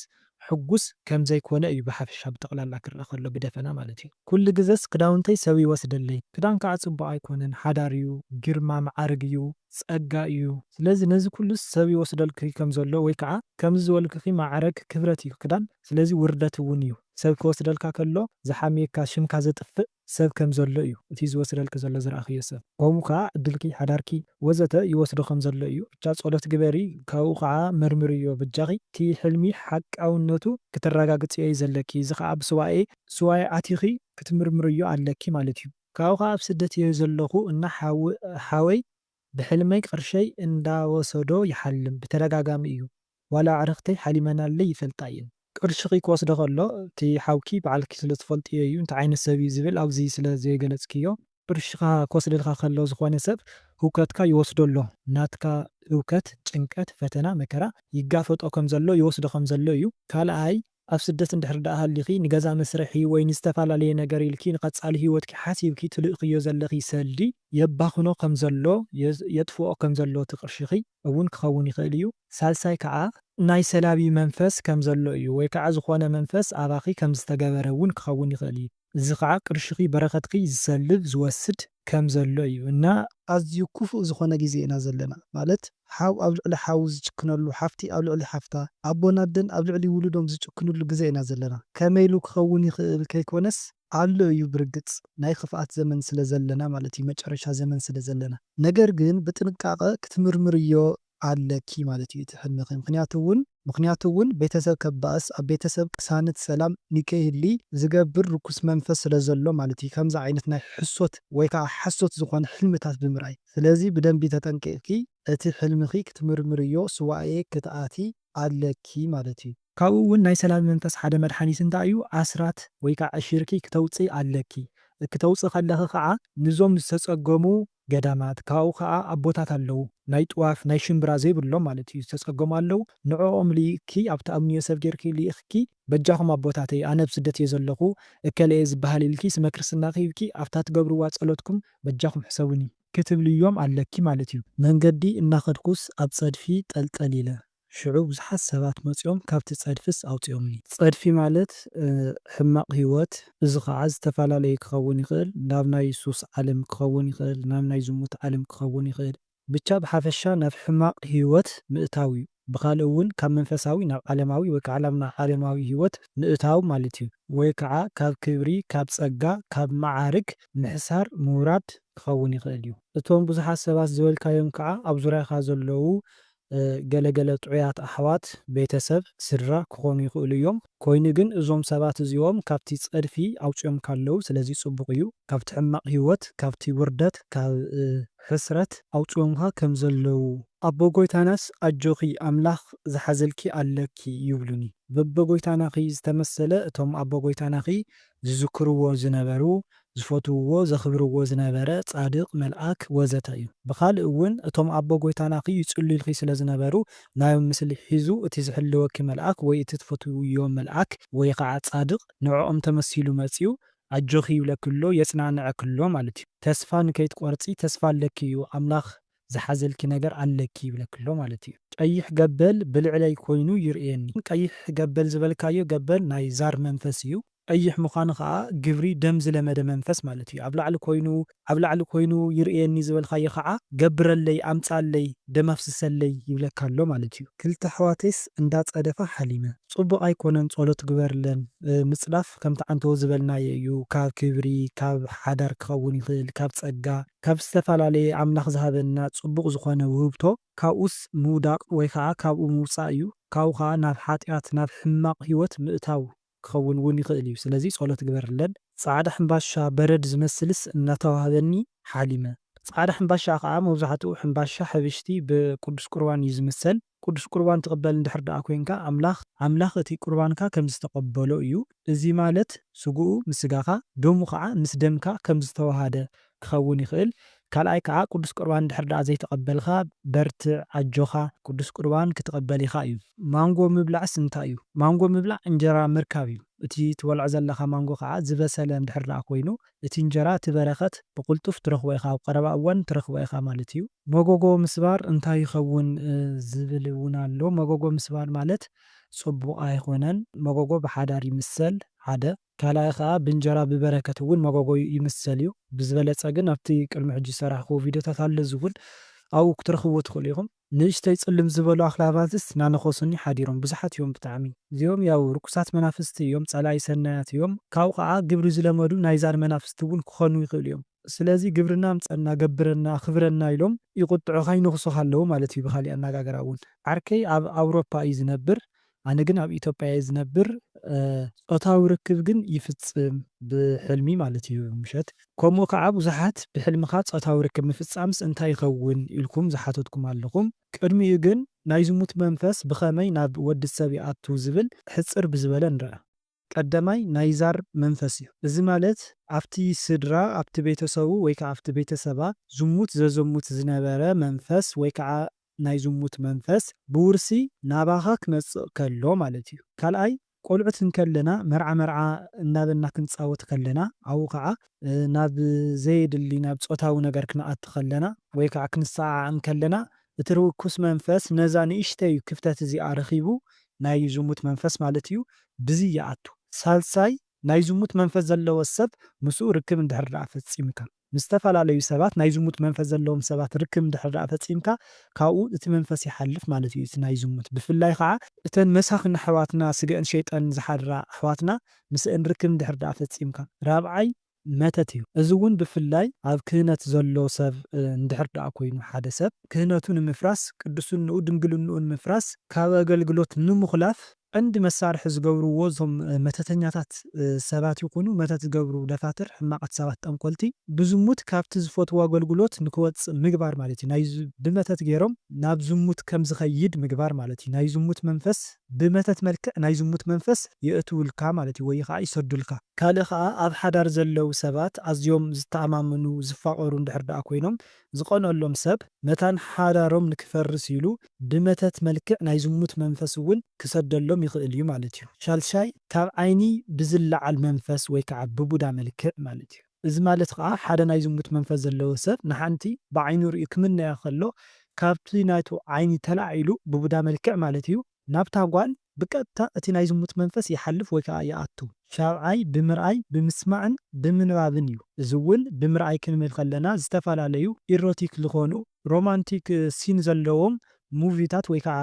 ሕጉስ ከምዘይኮነ እዩ ብሓፈሻ ብጠቅላላ ክርኣ ከሎ ብደፈና ማለት እዩ። ኩሉ ግዘስ ክዳውንተይ ሰብ ይወስደለይ ክዳን ከዓ ፅቡቅ ኣይኮነን ሓዳር እዩ ግርማ መዓርግ እዩ ፀጋ እዩ ስለዚ ነዚ ኩሉስ ሰብ ይወስደልኪ ከምዘሎ ወይ ከዓ ከምዚ ዝበልክኪ መዓረግ ክብረት እዩ ክዳን ስለዚ ውርደት እውን እዩ ሰብ ክወስደልካ ከሎ ዝሓምየካ ሽምካ ዘጥፍእ ሰብ ከም ዘሎ እዩ እቲ ዝወስደልኪ ዘሎ ዝረኣኽዮ ሰብ ከምኡ ከኣ ዕድልኪ ሓዳርኪ ወዘተ ይወስዶ ከም ዘሎ እዩ ብቻ ጸሎት ግበሪ ካብኡ ከኣ መርምርዮ በጃኺ እቲ ሕልሚ ሓቃውነቱ ክተራጋግጽዮ እዩ ዘለኪ እዚ ከኣ ብሱባኤ ሱባኤ ኣቲኺ ክትምርምርዮ ኣለኪ ማለት እዩ። ካብኡ ከኣ ኣብ ስደት እየ ዘለኹ እና ሓወይ። ብሕልመይ ቅርሸይ እንዳወሰዶ ይሓልም ብተደጋጋሚ እዩ ዋላ ኣዕርክተይ ሓሊመናለይ ይፈልጣ እየን። ቅርሽኺ ክወስዶ ከሎ እቲ ሓውኪ ባዕልኪ ስለ ትፈልጥዮ እዩ እንታይ ዓይነት ሰብ እዩ ዝብል ኣብዚ ስለ ዘይገለጽክዮ። ቅርሽኻ ክወስደልካ ከሎ ዝኾነ ሰብ ህውከትካ ይወስዶ ኣሎ ናትካ ህውከት ጭንቀት ፈተና መከራ ይጋፈጦ ከም ዘሎ ይወስዶ ከም ዘሎ እዩ ካልኣይ። ኣብ ስደት እንድሕር ደኣ ሃሊኺ ንገዛ መስርሒ ወይ ንዝተፈላለየ ነገር ኢልኪ ንቐጻሊ ህይወትኪ ሓሲብኪ ትልእኽዮ ዘለኺ ሰልዲ፣ የባኽኖ ከም ዘሎ፣ የጥፍኦ ከም ዘሎ እቲ ቅርሽኺ፣ እውን ክኸውን ይኽእል እዩ። ሳልሳይ ከኣ ናይ ሰላቢ መንፈስ ከም ዘሎ እዩ ወይ ከኣ ዝኾነ መንፈስ ኣባኺ ከም ዝተገበረ እውን ክኸውን ይኽእል እዩ። እዚ ኸኣ ቅርሽኺ በረኸትኪ ዝሰልብ ዝወስድ ከም ዘሎ እዩ እና ኣዝዩ ኩፉእ ዝኾነ ግዜ ኢና ዘለና ማለት ሓው ኣብ ልዕሊ ሓው ዝጭክነሉ ሓፍቲ ኣብ ልዕሊ ሓፍታ ኣቦን ኣደን ኣብ ልዕሊ ውሉዶም ዝጭክንሉ ግዘ ኢና ዘለና ከመይ ኢሉ ክኸውን ይኽእል ከይኮነስ ኣሎ እዩ ብርግጽ ናይ ኽፍኣት ዘመን ስለ ዘለና ማለት እዩ መጨረሻ ዘመን ስለ ዘለና ነገር ግን ብጥንቃቐ ክትምርምርዮ ኣለኪ ማለት እዩ እቲ ሕልምኺ ምኽንያቱ ውን ምኽንያቱ እውን ቤተሰብ ከበኣስ ኣብ ቤተሰብ ቅሳነት ሰላም ንከይህሊ ዝገብር ርኩስ መንፈስ ስለዘሎ ማለት እዩ ከምዚ ዓይነት ናይ ሕሶት ወይ ከዓ ሓሶት ዝኾነ ሕልምታት ብምርኣይ ስለዚ ብደንቢ ተጠንቂቕኪ እቲ ሕልምኺ ክትምርምርዮ ሱባኤ ክትኣትዪ ኣለኪ ማለት እዩ። ካብኡ እውን ናይ ሰላቢ መንፈስ ሓደ መድሓኒት እንታይ እዩ ኣስራት ወይ ከዓ ዕሽርኪ ክተውፅኢ ኣለኪ ክተውፅኢ ከለኺ ከዓ ንዞም ዝተፀገሙ ገዳማት ካብኡ ከኣ ኣቦታት ኣለዉ ናይ ጥዋፍ ናይ ሽምብራ ዘይብሎም ማለት እዩ ዝተጸገሙ ኣለዉ ንዕኦም ልኢክኪ ኣብቲ ኣብኒ ዮሰፍ ጌርኪ ልኢክኪ በጃኩም ኣቦታተይ ኣነ ኣብ ስደት እየ ዘለኩ እከለ እየ ዝብሃል ኢልኪ ስመ ክርስትናኪ ሂብኪ ኣብታ ትገብርዋ ጸሎትኩም በጃኩም ሕሰቡኒ ክትብልዮም ኣለኪ ማለት እዩ። መንገዲ እናኸድኩስ ኣብ ጸድፊ ጠልጠል ኢለ። ሽዑ ብዙሓት ሰባት መጺኦም ካብቲ ጸድፍስ ኣውጺኦምኒ። ጸድፊ ማለት ሕማቕ ህይወት እዚ ኸኣ ዝተፈላለዩ ክኸውን ይኽእል ናብ ናይ ሱስ ዓለም ክኸውን ይኽእል ናብ ናይ ዝሙት ዓለም ክኸውን ይኽእል ብቻ ብሓፈሻ ናብ ሕማቕ ህይወት ምእታው እዩ ብኻልእ እውን ካብ መንፈሳዊ ናብ ዓለማዊ ወይ ከዓ ናብ ዓለማዊ ህይወት ምእታው ማለት እዩ ወይ ከዓ ካብ ክብሪ ካብ ጸጋ ካብ መዓርግ ምሕሳር ምውራድ ክኸውን ይኽእል እዩ። እቶም ብዙሓት ሰባት ዝበልካዮም ከዓ ኣብ ዙርያኻ ዘለዉ ገለ ገለ ጥዑያት ኣሕዋት፣ ቤተ ሰብ፣ ስድራ፣ ክኾኑ ይኽእሉ እዮም። ኮይኑ ግን እዞም ሰባት እዚኦም ካብቲ ጸድፊ ኣውጺኦምካ ኣለዉ ስለዚ ጽቡቕ እዩ። ካብቲ ሕማቕ ህይወት ካብቲ ውርደት ካብ ሕስረት ኣውጺኦምካ ከም ዘለዉ። ኣቦ ጎይታናስ ኣጆኺ ኣምላኽ ዝሓዘልኪ ኣለኪ ይብሉኒ። በበጎይታናኺ ዝተመሰለ እቶም ኣቦ ጎይታናኺ ዝዝክርዎ ዝነበሩ ዝፈትውዎ ዘኽብርዎ ዝነበረ ጻድቅ መልኣክ ወዘተ እዩ ብኻልእ እውን እቶም ኣቦ ጎይታናኺ ይጽልዩልኺ ስለ ዝነበሩ ናዮም ምስሊ ሒዙ እቲ ዝሕልወኪ መልኣክ ወይ እቲ ትፈትውዮ መልኣክ ወይ ኻዓ ጻድቅ ንዕኦም ተመሲሉ መጽዩ ኣጆኺ ይብለኪ ኣሎ የጽናንዐኪ ኣሎ ማለት እዩ ተስፋ ንከይትቆርጺ ተስፋ ኣለኪ እዩ ኣምላኽ ዝሓዘልኪ ነገር ኣለኪ ይብለኪ ኣሎ ማለት እዩ። ቀይሕ ገበል ብልዕለይ ኮይኑ ይርእየኒ። ቀይሕ ገበል ዝበልካዮ ገበል ናይ ዛር መንፈስ እዩ። ቀይሕ ምዃኑ ከኣ ግብሪ ደም ዝለመደ መንፈስ ማለት እዩ። ኣብ ላዕሊ ኮይኑ ኣብ ላዕሊ ኮይኑ ይርእየኒ ዝበልካዮ ከኣ ገብረለይ ኣምጽኣለይ ደም ኣፍስሰለይ ይብለካ ኣሎ ማለት እዩ። ክልተ ኣሕዋተይስ እንዳ ጸደፋ ሓሊመ። ጽቡቅ ኣይኮነን ጸሎት ግበርለን ምጽዳፍ ከምቲ ዓንተቦ ዝበልናዮ እዩ ካብ ክብሪ ካብ ሓዳር ክኸውን ይኽእል ካብ ጸጋ። ካብ ዝተፈላለየ ኣምላኽ ዝሃበና ጽቡቕ ዝኾነ ውህብቶ ካብኡስ ምውዳቕ ወይ ከኣ ካብኡ ምውጻእ እዩ ካብኡ ከኣ ናብ ሓጥያት ናብ ሕማቕ ህይወት ምእታው ክኸውን እውን ይኽእል እዩ ስለዚ ጸሎት ግበርለን። ጻዕዳ ሕምባሻ በረድ ዝመስልስ እናተዋህበኒ ሓሊመ። ጻዕዳ ሕምባሻ ከኣ መብዛሕትኡ ሕምባሻ ሕብሽቲ ብቅዱስ ቁርባን እዩ ዝምሰል። ቅዱስ ቍርባን ትቕበል እንድሕር ደኣ ኰይንካ፣ ኣምላኽ፣ ኣምላኽ እቲ ቍርባንካ ኸም ዝተቐበሎ እዩ፣ እዚ ማለት ስጋኡ ምስ ስጋኻ፣ ደሙ ኸዓ ምስ ደምካ ከም ዝተወሃሃደ ኪኸውን ይኽእል። ካልኣይ ከኣ፣ ቅዱስ ቍርባን እንድሕር ደኣ ዘይተቐበልካ፣ በርትዕ፣ ኣጆኻ፣ ቅዱስ ቍርባን ክትቕበል ኢኻ እዩ። ማንጎ ምብላዕስ እንታይ እዩ? ማንጎ ምብላዕ እንጀራ ምርካብ እዩ። እቲ ትበልዖ ዘለኻ ማንጎ ኸዓ ዝበሰለ እንድሕር ደኣ ኰይኑ፣ እቲ እንጀራ እቲ በረከት ብቅልጡፍ ትረክቦ ኢካ ኣብ ቀረባ እዋን ትረክቦ ኢካ ማለት እዩ። መጎጎ ምስባር እንታይ ይከውን ዝብል እውን ኣሎ መጎጎ ምስባር ማለት ጽቡቅ ኣይኮነን መጎጎ ብሓዳር ይምሰል ሓደ ካልኣይ ከኣ ብእንጀራ ብበረከት እውን መጎጎ ይምሰል እዩ ብዝበለጸ ግን ኣብቲ ቅድሚ ሕጂ ዝሰራሕክዎ ቪድዮታት ኣሎ እዚ እውን ኣብኡ ክትረክብዎ ትክእሉ ኢኩም። ንእሽተይ ጽልም ዝበሉ ኣኽላባትስ ናነኾሱኒ ሓዲሮም ብዙሓት እዮም ብጣዕሚ። እዚኦም ያው ርኩሳት መናፍስቲ እዮም ጸላኢ ሰናያት እዮም ካብኡ ከኣ ግብሪ ዝለመዱ ናይዛን መናፍስቲ እውን ክኾኑ ይኽእሉ እዮም ስለዚ ግብርና ኣምጸና ገብረና ኣኽብረና ኢሎም ይቁጥዑኻ ይነኽሱኻ ኣለዉ ማለት እዩ ብኻሊእ ኣናጋግራ እውን ዓርከይ ኣብ ኣውሮፓ እዩ ዝነብር ኣነ ግን ኣብ ኢትዮጵያ እየ ዝነብር ጾታዊ ርክብ ግን ይፍጽም ብሕልሚ ማለት እዩ ምሸት ከምኡ ከኣ ብዙሓት ብሕልምኻ ጾታዊ ርክብ ምፍጻምስ እንታይ ይኸውን ኢልኩም ዝሓተትኩም ኣለኹም ቅድሚኡ ግን ናይ ዝሙት መንፈስ ብኸመይ ናብ ወዲ ሰብ ይኣቱ ዝብል ሕጽር ብዝበለ ንርኣ። ቀዳማይ ናይ ዛር መንፈስ እዩ። እዚ ማለት ኣብቲ ስድራ፣ ኣብቲ ቤተሰቡ ወይ ከዓ ኣብቲ ቤተሰባ ዝሙት ዘዘሙት ዝነበረ መንፈስ ወይ ከዓ ናይ ዝሙት መንፈስ ብውርሲ ናባኻ ክመፅእ ከሎ ማለት እዩ። ካልኣይ ቆልዑት እንከለና መርዓ መርዓ እናበልና ክንፃወት ከለና ኣብኡ ከዓ ናብ ዘየድሊ ናብ ፆታዊ ነገር ክንኣቲ ከለና ወይ ከዓ ክንሰዓዓቕ እንከለና እቲ ርኩስ መንፈስ ነዛ ንእሽተይ ክፍተት እዚኣ ረኺቡ ናይ ዝሙት መንፈስ ማለት እዩ ብዚ ይኣቱ። ሳልሳይ ናይ ዝሙት መንፈስ ዘለዎ ሰብ ምስኡ ርክብ እንድሕር ደኣ ፈጺምካ። ምስ ዝተፈላለዩ ሰባት ናይ ዝሙት መንፈስ ዘለዎም ሰባት ርክብ እንድሕር ደኣ ፈጺምካ ካብኡ እቲ መንፈስ ይሓልፍ ማለት እዩ እቲ ናይ ዝሙት ብፍላይ ኸኣ። እተን መሳኺን ኣሕዋትና ስገእን ሸይጠን ዝሓድራ ኣሕዋትና ምስእን ርክብ እንድሕር ደኣ ፈጺምካ። ራብዓይ መተት እዩ። እዚ እውን ብፍላይ ኣብ ክህነት ዘሎ ሰብ እንድሕር ደኣ ኮይኑ ሓደ ሰብ ክህነቱ ንምፍራስ ቅድስንኡ ድንግልንኡ ንምፍራስ ካብ ኣገልግሎት ንምኹላፍ ቀንዲ መሳርሒ ዝገብርዎ እዞም መተተኛታት ሰባት ይኹኑ መተት ዝገብሩ ደፋትር ሕማቓት ሰባት ጠንቆልቲ ብዝሙት ካብቲ ዝፈትዎ ኣገልግሎት ንክወጽእ ምግባር ማለት እዩ ናይ ብመተት ገይሮም ናብ ዝሙት ከምዝኸይድ ምግባር ማለት እዩ ናይ ዝሙት መንፈስ ብመተት መልክዕ ናይ ዝሙት መንፈስ የእትውልካ ማለት እዩ ወይ ኸኣ ይሰዱልካ። ካልእ ኸኣ ኣብ ሓዳር ዘለው ሰባት ኣዝዮም ዝተኣማመኑ ዝፋቐሩ እንድሕር ደኣ ኮይኖም ዝቐንኣሎም ሰብ መታን ሓዳሮም ንክፈርስ ኢሉ ብመተት መልክዕ ናይ ዝሙት መንፈስ እውን ክሰደሎም ይኽእል እዩ ማለት እዩ። ሻልሻይ ካብ ዓይኒ ብዝለዓል መንፈስ ወይ ከዓ ብቡዳ መልክዕ ማለት እዩ። እዚ ማለት ከኣ ሓደ ናይ ዝሙት መንፈስ ዘለዎ ሰብ ንሓንቲ ብዓይኑ ርእዩ ክምነያ ከሎ ካብቲ ናቱ ዓይኒ ተላዒሉ ብቡዳ መልክዕ ማለት እዩ ናብታ ጓል ብቀጥታ እቲ ናይ ዝሙት መንፈስ ይሓልፍ ወይ ከኣ ይኣቱ። ሻብዓይ ብምርኣይ ብምስማዕን ብምንባብን እዩ እዚ ውን ብምርኣይ ክንብል ከለና ዝተፋላለዩ ኢሮቲክ ልኾኑ ሮማንቲክ ሲን ዘለዎም ሙቪታት ወይ ከኣ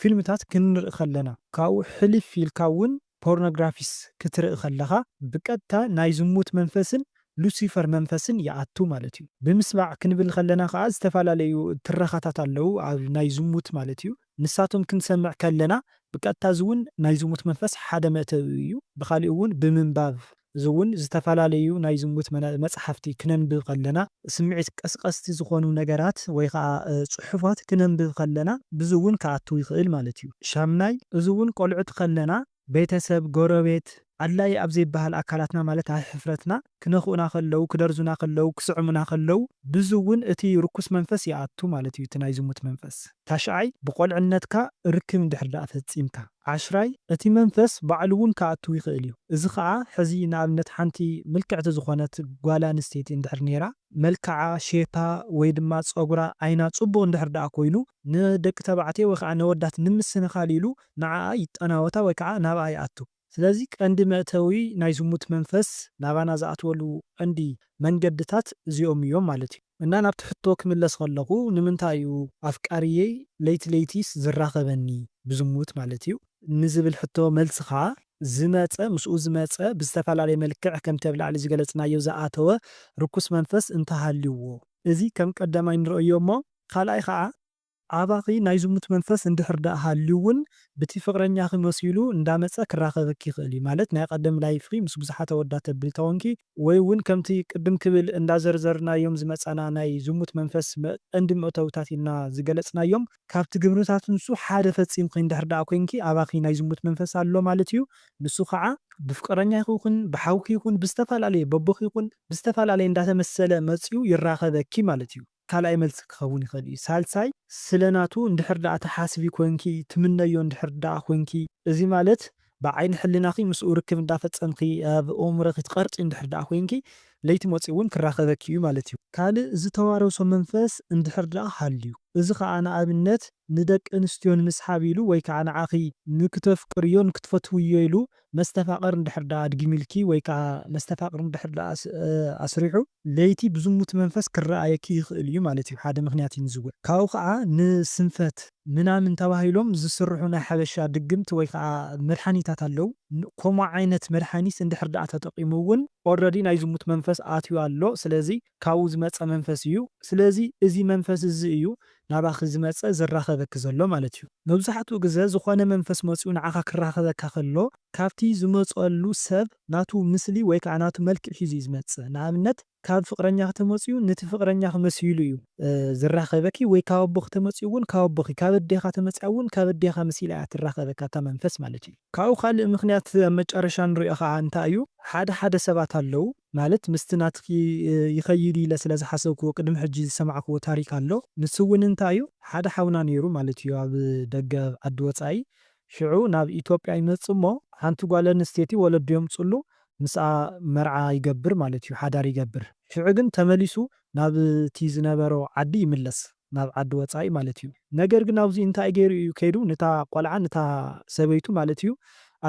ፊልምታት ክንርኢ ከለና ካብኡ ሕልፍ ኢልካ ውን ፖርኖግራፊስ ክትርኢ ከለኻ ብቀጥታ ናይ ዝሙት መንፈስን ሉሲፈር መንፈስን ይኣቱ ማለት እዩ። ብምስማዕ ክንብል ከለና ከኣ ዝተፈላለዩ ትረኻታት ኣለዉ ኣብ ናይ ዝሙት ማለት እዩ። ንሳቶም ክንሰምዕ ከለና ብቀጥታ እዚ ውን ናይ ዝሙት መንፈስ ሓደ መእተዊ እዩ። ብኻሊእ ውን ብምንባብ እዚ እውን ዝተፈላለዩ ናይ ዝሙት መጽሓፍቲ ክነንብብ ከለና፣ ስምዒት ቀስቀስቲ ዝኾኑ ነገራት ወይ ኸኣ ጽሑፋት ክነንብብ ከለና ብዚ እውን ክኣቱ ይኽእል ማለት እዩ። ሻምናይ፣ እዚ እውን ቆልዑት ከለና ቤተሰብ፣ ጎረቤት፣ ኣድላዪ ኣብ ዘይበሃል ኣካላትና ማለት ኣብ ሕፍረትና ክነኽኡና ከለዉ፣ ክደርዙና ከለዉ፣ ክስዕሙና ከለዉ ብዚ እውን እቲ ርኩስ መንፈስ ይኣቱ ማለት እዩ፣ እቲ ናይ ዝሙት መንፈስ። ታሽዓይ፣ ብቆልዕነትካ ርክብ እንድሕር ደኣ ፈጺምካ። ዓሽራይ፣ እቲ መንፈስ ባዕሉ'ውን ክኣትው ይኽእል እዩ። እዚ ኸኣ ሕዚ ንኣብነት ሓንቲ ምልክዕቲ ዝኾነት ጓል ኣንስተይቲ እንድሕር ነይራ፣ መልክዓ፣ ሼፓ፣ ወይ ድማ ጸጉራ፣ ዓይና ጽቡቕ እንድሕር ደኣ ኮይኑ፣ ንደቂ ተባዕትዮ ወይ ኸኣ ነወዳት ንምስንኻል ኢሉ ንዓኣ ይጠናወታ ወይ ከኣ ናብኣ ይኣቱ። ስለዚ ቀንዲ መእተዊ ናይ ዝሙት መንፈስ ናባና ዝኣትወሉ ቀንዲ መንገድታት እዚኦም እዮም ማለት እዩ። እና ናብቲ ሕቶ ክምለስ ከለኹ ንምንታይ እዩ ኣፍቃሪየይ ለይቲ ለይቲስ ዝራኸበኒ ብዝሙት ማለት እዩ ንዝብል ሕቶ መልስኻ ዝመጸ ምስኡ ዝመጸ ብዝተፈላለየ መልክዕ ከምቲ ኣብ ላዕሊ ዝገለጽናዮ ዝኣተወ ርኩስ መንፈስ እንተሃልዩዎ እዚ ከም ቀዳማይ ንርእዮ እሞ ካልኣይ ኸኣ ኣባኺ ናይ ዝሙት መንፈስ እንድሕር ደኣ ሃልዩ ውን ብቲ ፍቅረኛኺ መሲሉ እንዳመጸ ክራኸበኪ ይኽእል እዩ ማለት ናይ ቐደም ላይፍኺ ምስ ብዙሓት ኣወዳት ተብሊ ተኾንኪ፣ ወይ ውን ከምቲ ቅድም ክብል እንዳዘርዘርናዮም ዝመጻና ናይ ዝሙት መንፈስ ቀንዲ መእተዊታት ኢልና ዝገለጽናዮም ካብቲ ግብርታት ንሱ ሓደ ፈጺምኺ እንድሕር ደኣ ኮንኪ ኣባኺ ናይ ዝሙት መንፈስ ኣሎ ማለት እዩ ንሱ ኸዓ ብፍቅረኛኺ ይኹን ብሓውኪ ይኹን ብዝተፈላለየ በቦኺ ይኹን ብዝተፈላለየ እንዳተመሰለ መጽዩ ይራኸበኪ ማለት እዩ። ካልኣይ መልሲ ክኸውን ይኽእል እዩ። ሳልሳይ፣ ስለ ናቱ እንድሕር ደኣ ትሓስቢ ኮንኪ፣ ትምነዮ እንድሕር ደኣ ኮንኪ፣ እዚ ማለት ብዓይኒ ሕልናኺ ምስኡ ርክብ እንዳፈጸምኪ ኣብ ኦእምሮኺ ትቐርጺ እንድሕር ደኣ ኮንኪ፣ ለይቲ መጺኡ እውን ክራኸበኪ እዩ ማለት እዩ። ካልእ ዝተዋረሶ መንፈስ እንድሕር ደኣ ሃልዩ፣ እዚ ከኣ ንኣብነት ንደቂ ኣንስትዮ ንምስሓብ ኢሉ ወይ ከኣ ንዓኺ ንክተፍቅርዮን ክትፈትውዮ ኢሉ መስተፋቕር እንድሕር ደኣ ኣድጊሚልኪ ወይ ከኣ መስተፋቕር እንድሕር ደኣ ኣስሪሑ፣ ለይቲ ብዝሙት መንፈስ ክረኣየኪ ይኽእል እዩ ማለት እዩ ሓደ ምኽንያት እዩ ንዝውዕ ካብኡ ከኣ ንስንፈት ምናምን ተባሂሎም ዝስርሑ ናይ ሓበሻ ድግምት ወይ ከኣ መድሓኒታት ኣለው ከምኡ ዓይነት መድሓኒት እንድሕር ደኣ ተጠቂሙ እውን ኦረዲ ናይ ዝሙት መንፈስ ኣትዩ ኣሎ ስለዚ ካብኡ ዝመጸ መንፈስ እዩ ስለዚ እዚ መንፈስ እዚ እዩ ናባኺ ዝመጸ ዝራኸበኪ ዘሎ ማለት እዩ። መብዛሕትኡ ግዘ ዝኾነ መንፈስ መጺኡ ንዓኻ ክራኸበካ ከሎ ካብቲ ዝመጸሉ ሰብ ናቱ ምስሊ ወይ ከዓ ናቱ መልክዕ ሒዙ እዩ ዝመጽእ። ንኣብነት ካብ ፍቅረኛኺ ተመጺኡ ንቲ ፍቅረኛኺ መሲሉ እዩ ዝራኸበኪ ወይ ካብ ኣቦኺ ተመጺኡ እውን ካብ ኣቦኺ ካብ ኣዴኻ ተመጺኣ እውን ካብ ኣዴኻ መሲላ እያ ትራኸበኪ ኣታ መንፈስ ማለት እዩ። ካብኡ ካልእ ምኽንያት ኣብ መጨረሻ ንሪኦ ከዓ እንታይ እዩ ሓደ ሓደ ሰባት ኣለው ማለት ምስቲ ናትኪ ይኸይድ ኢለ ስለ ዝሓሰብክዎ ቅድሚ ሕጂ ዝሰማዕክዎ ታሪክ ኣሎ ንሱ ውን እንታይ እዩ ሓደ ሓውና ኔሩ ማለት እዩ ኣብ ደገ ኣብ ዓዲ ወጻኢ ሽዑ ናብ ኢትዮጵያ ይመጽእ እሞ ሓንቲ ጓል ኣንስተይቲ ወለዱ የምጽሉ ምስኣ መርዓ ይገብር ማለት እዩ ሓዳር ይገብር ሽዑ ግን ተመሊሱ ናብቲ ዝነበሮ ዓዲ ይምለስ ናብ ዓዲ ወጻኢ ማለት እዩ ነገር ግን ኣብዙይ እንታይ ገይሩ እዩ ከይዱ ንታ ቆልዓ ንታ ሰበይቱ ማለት እዩ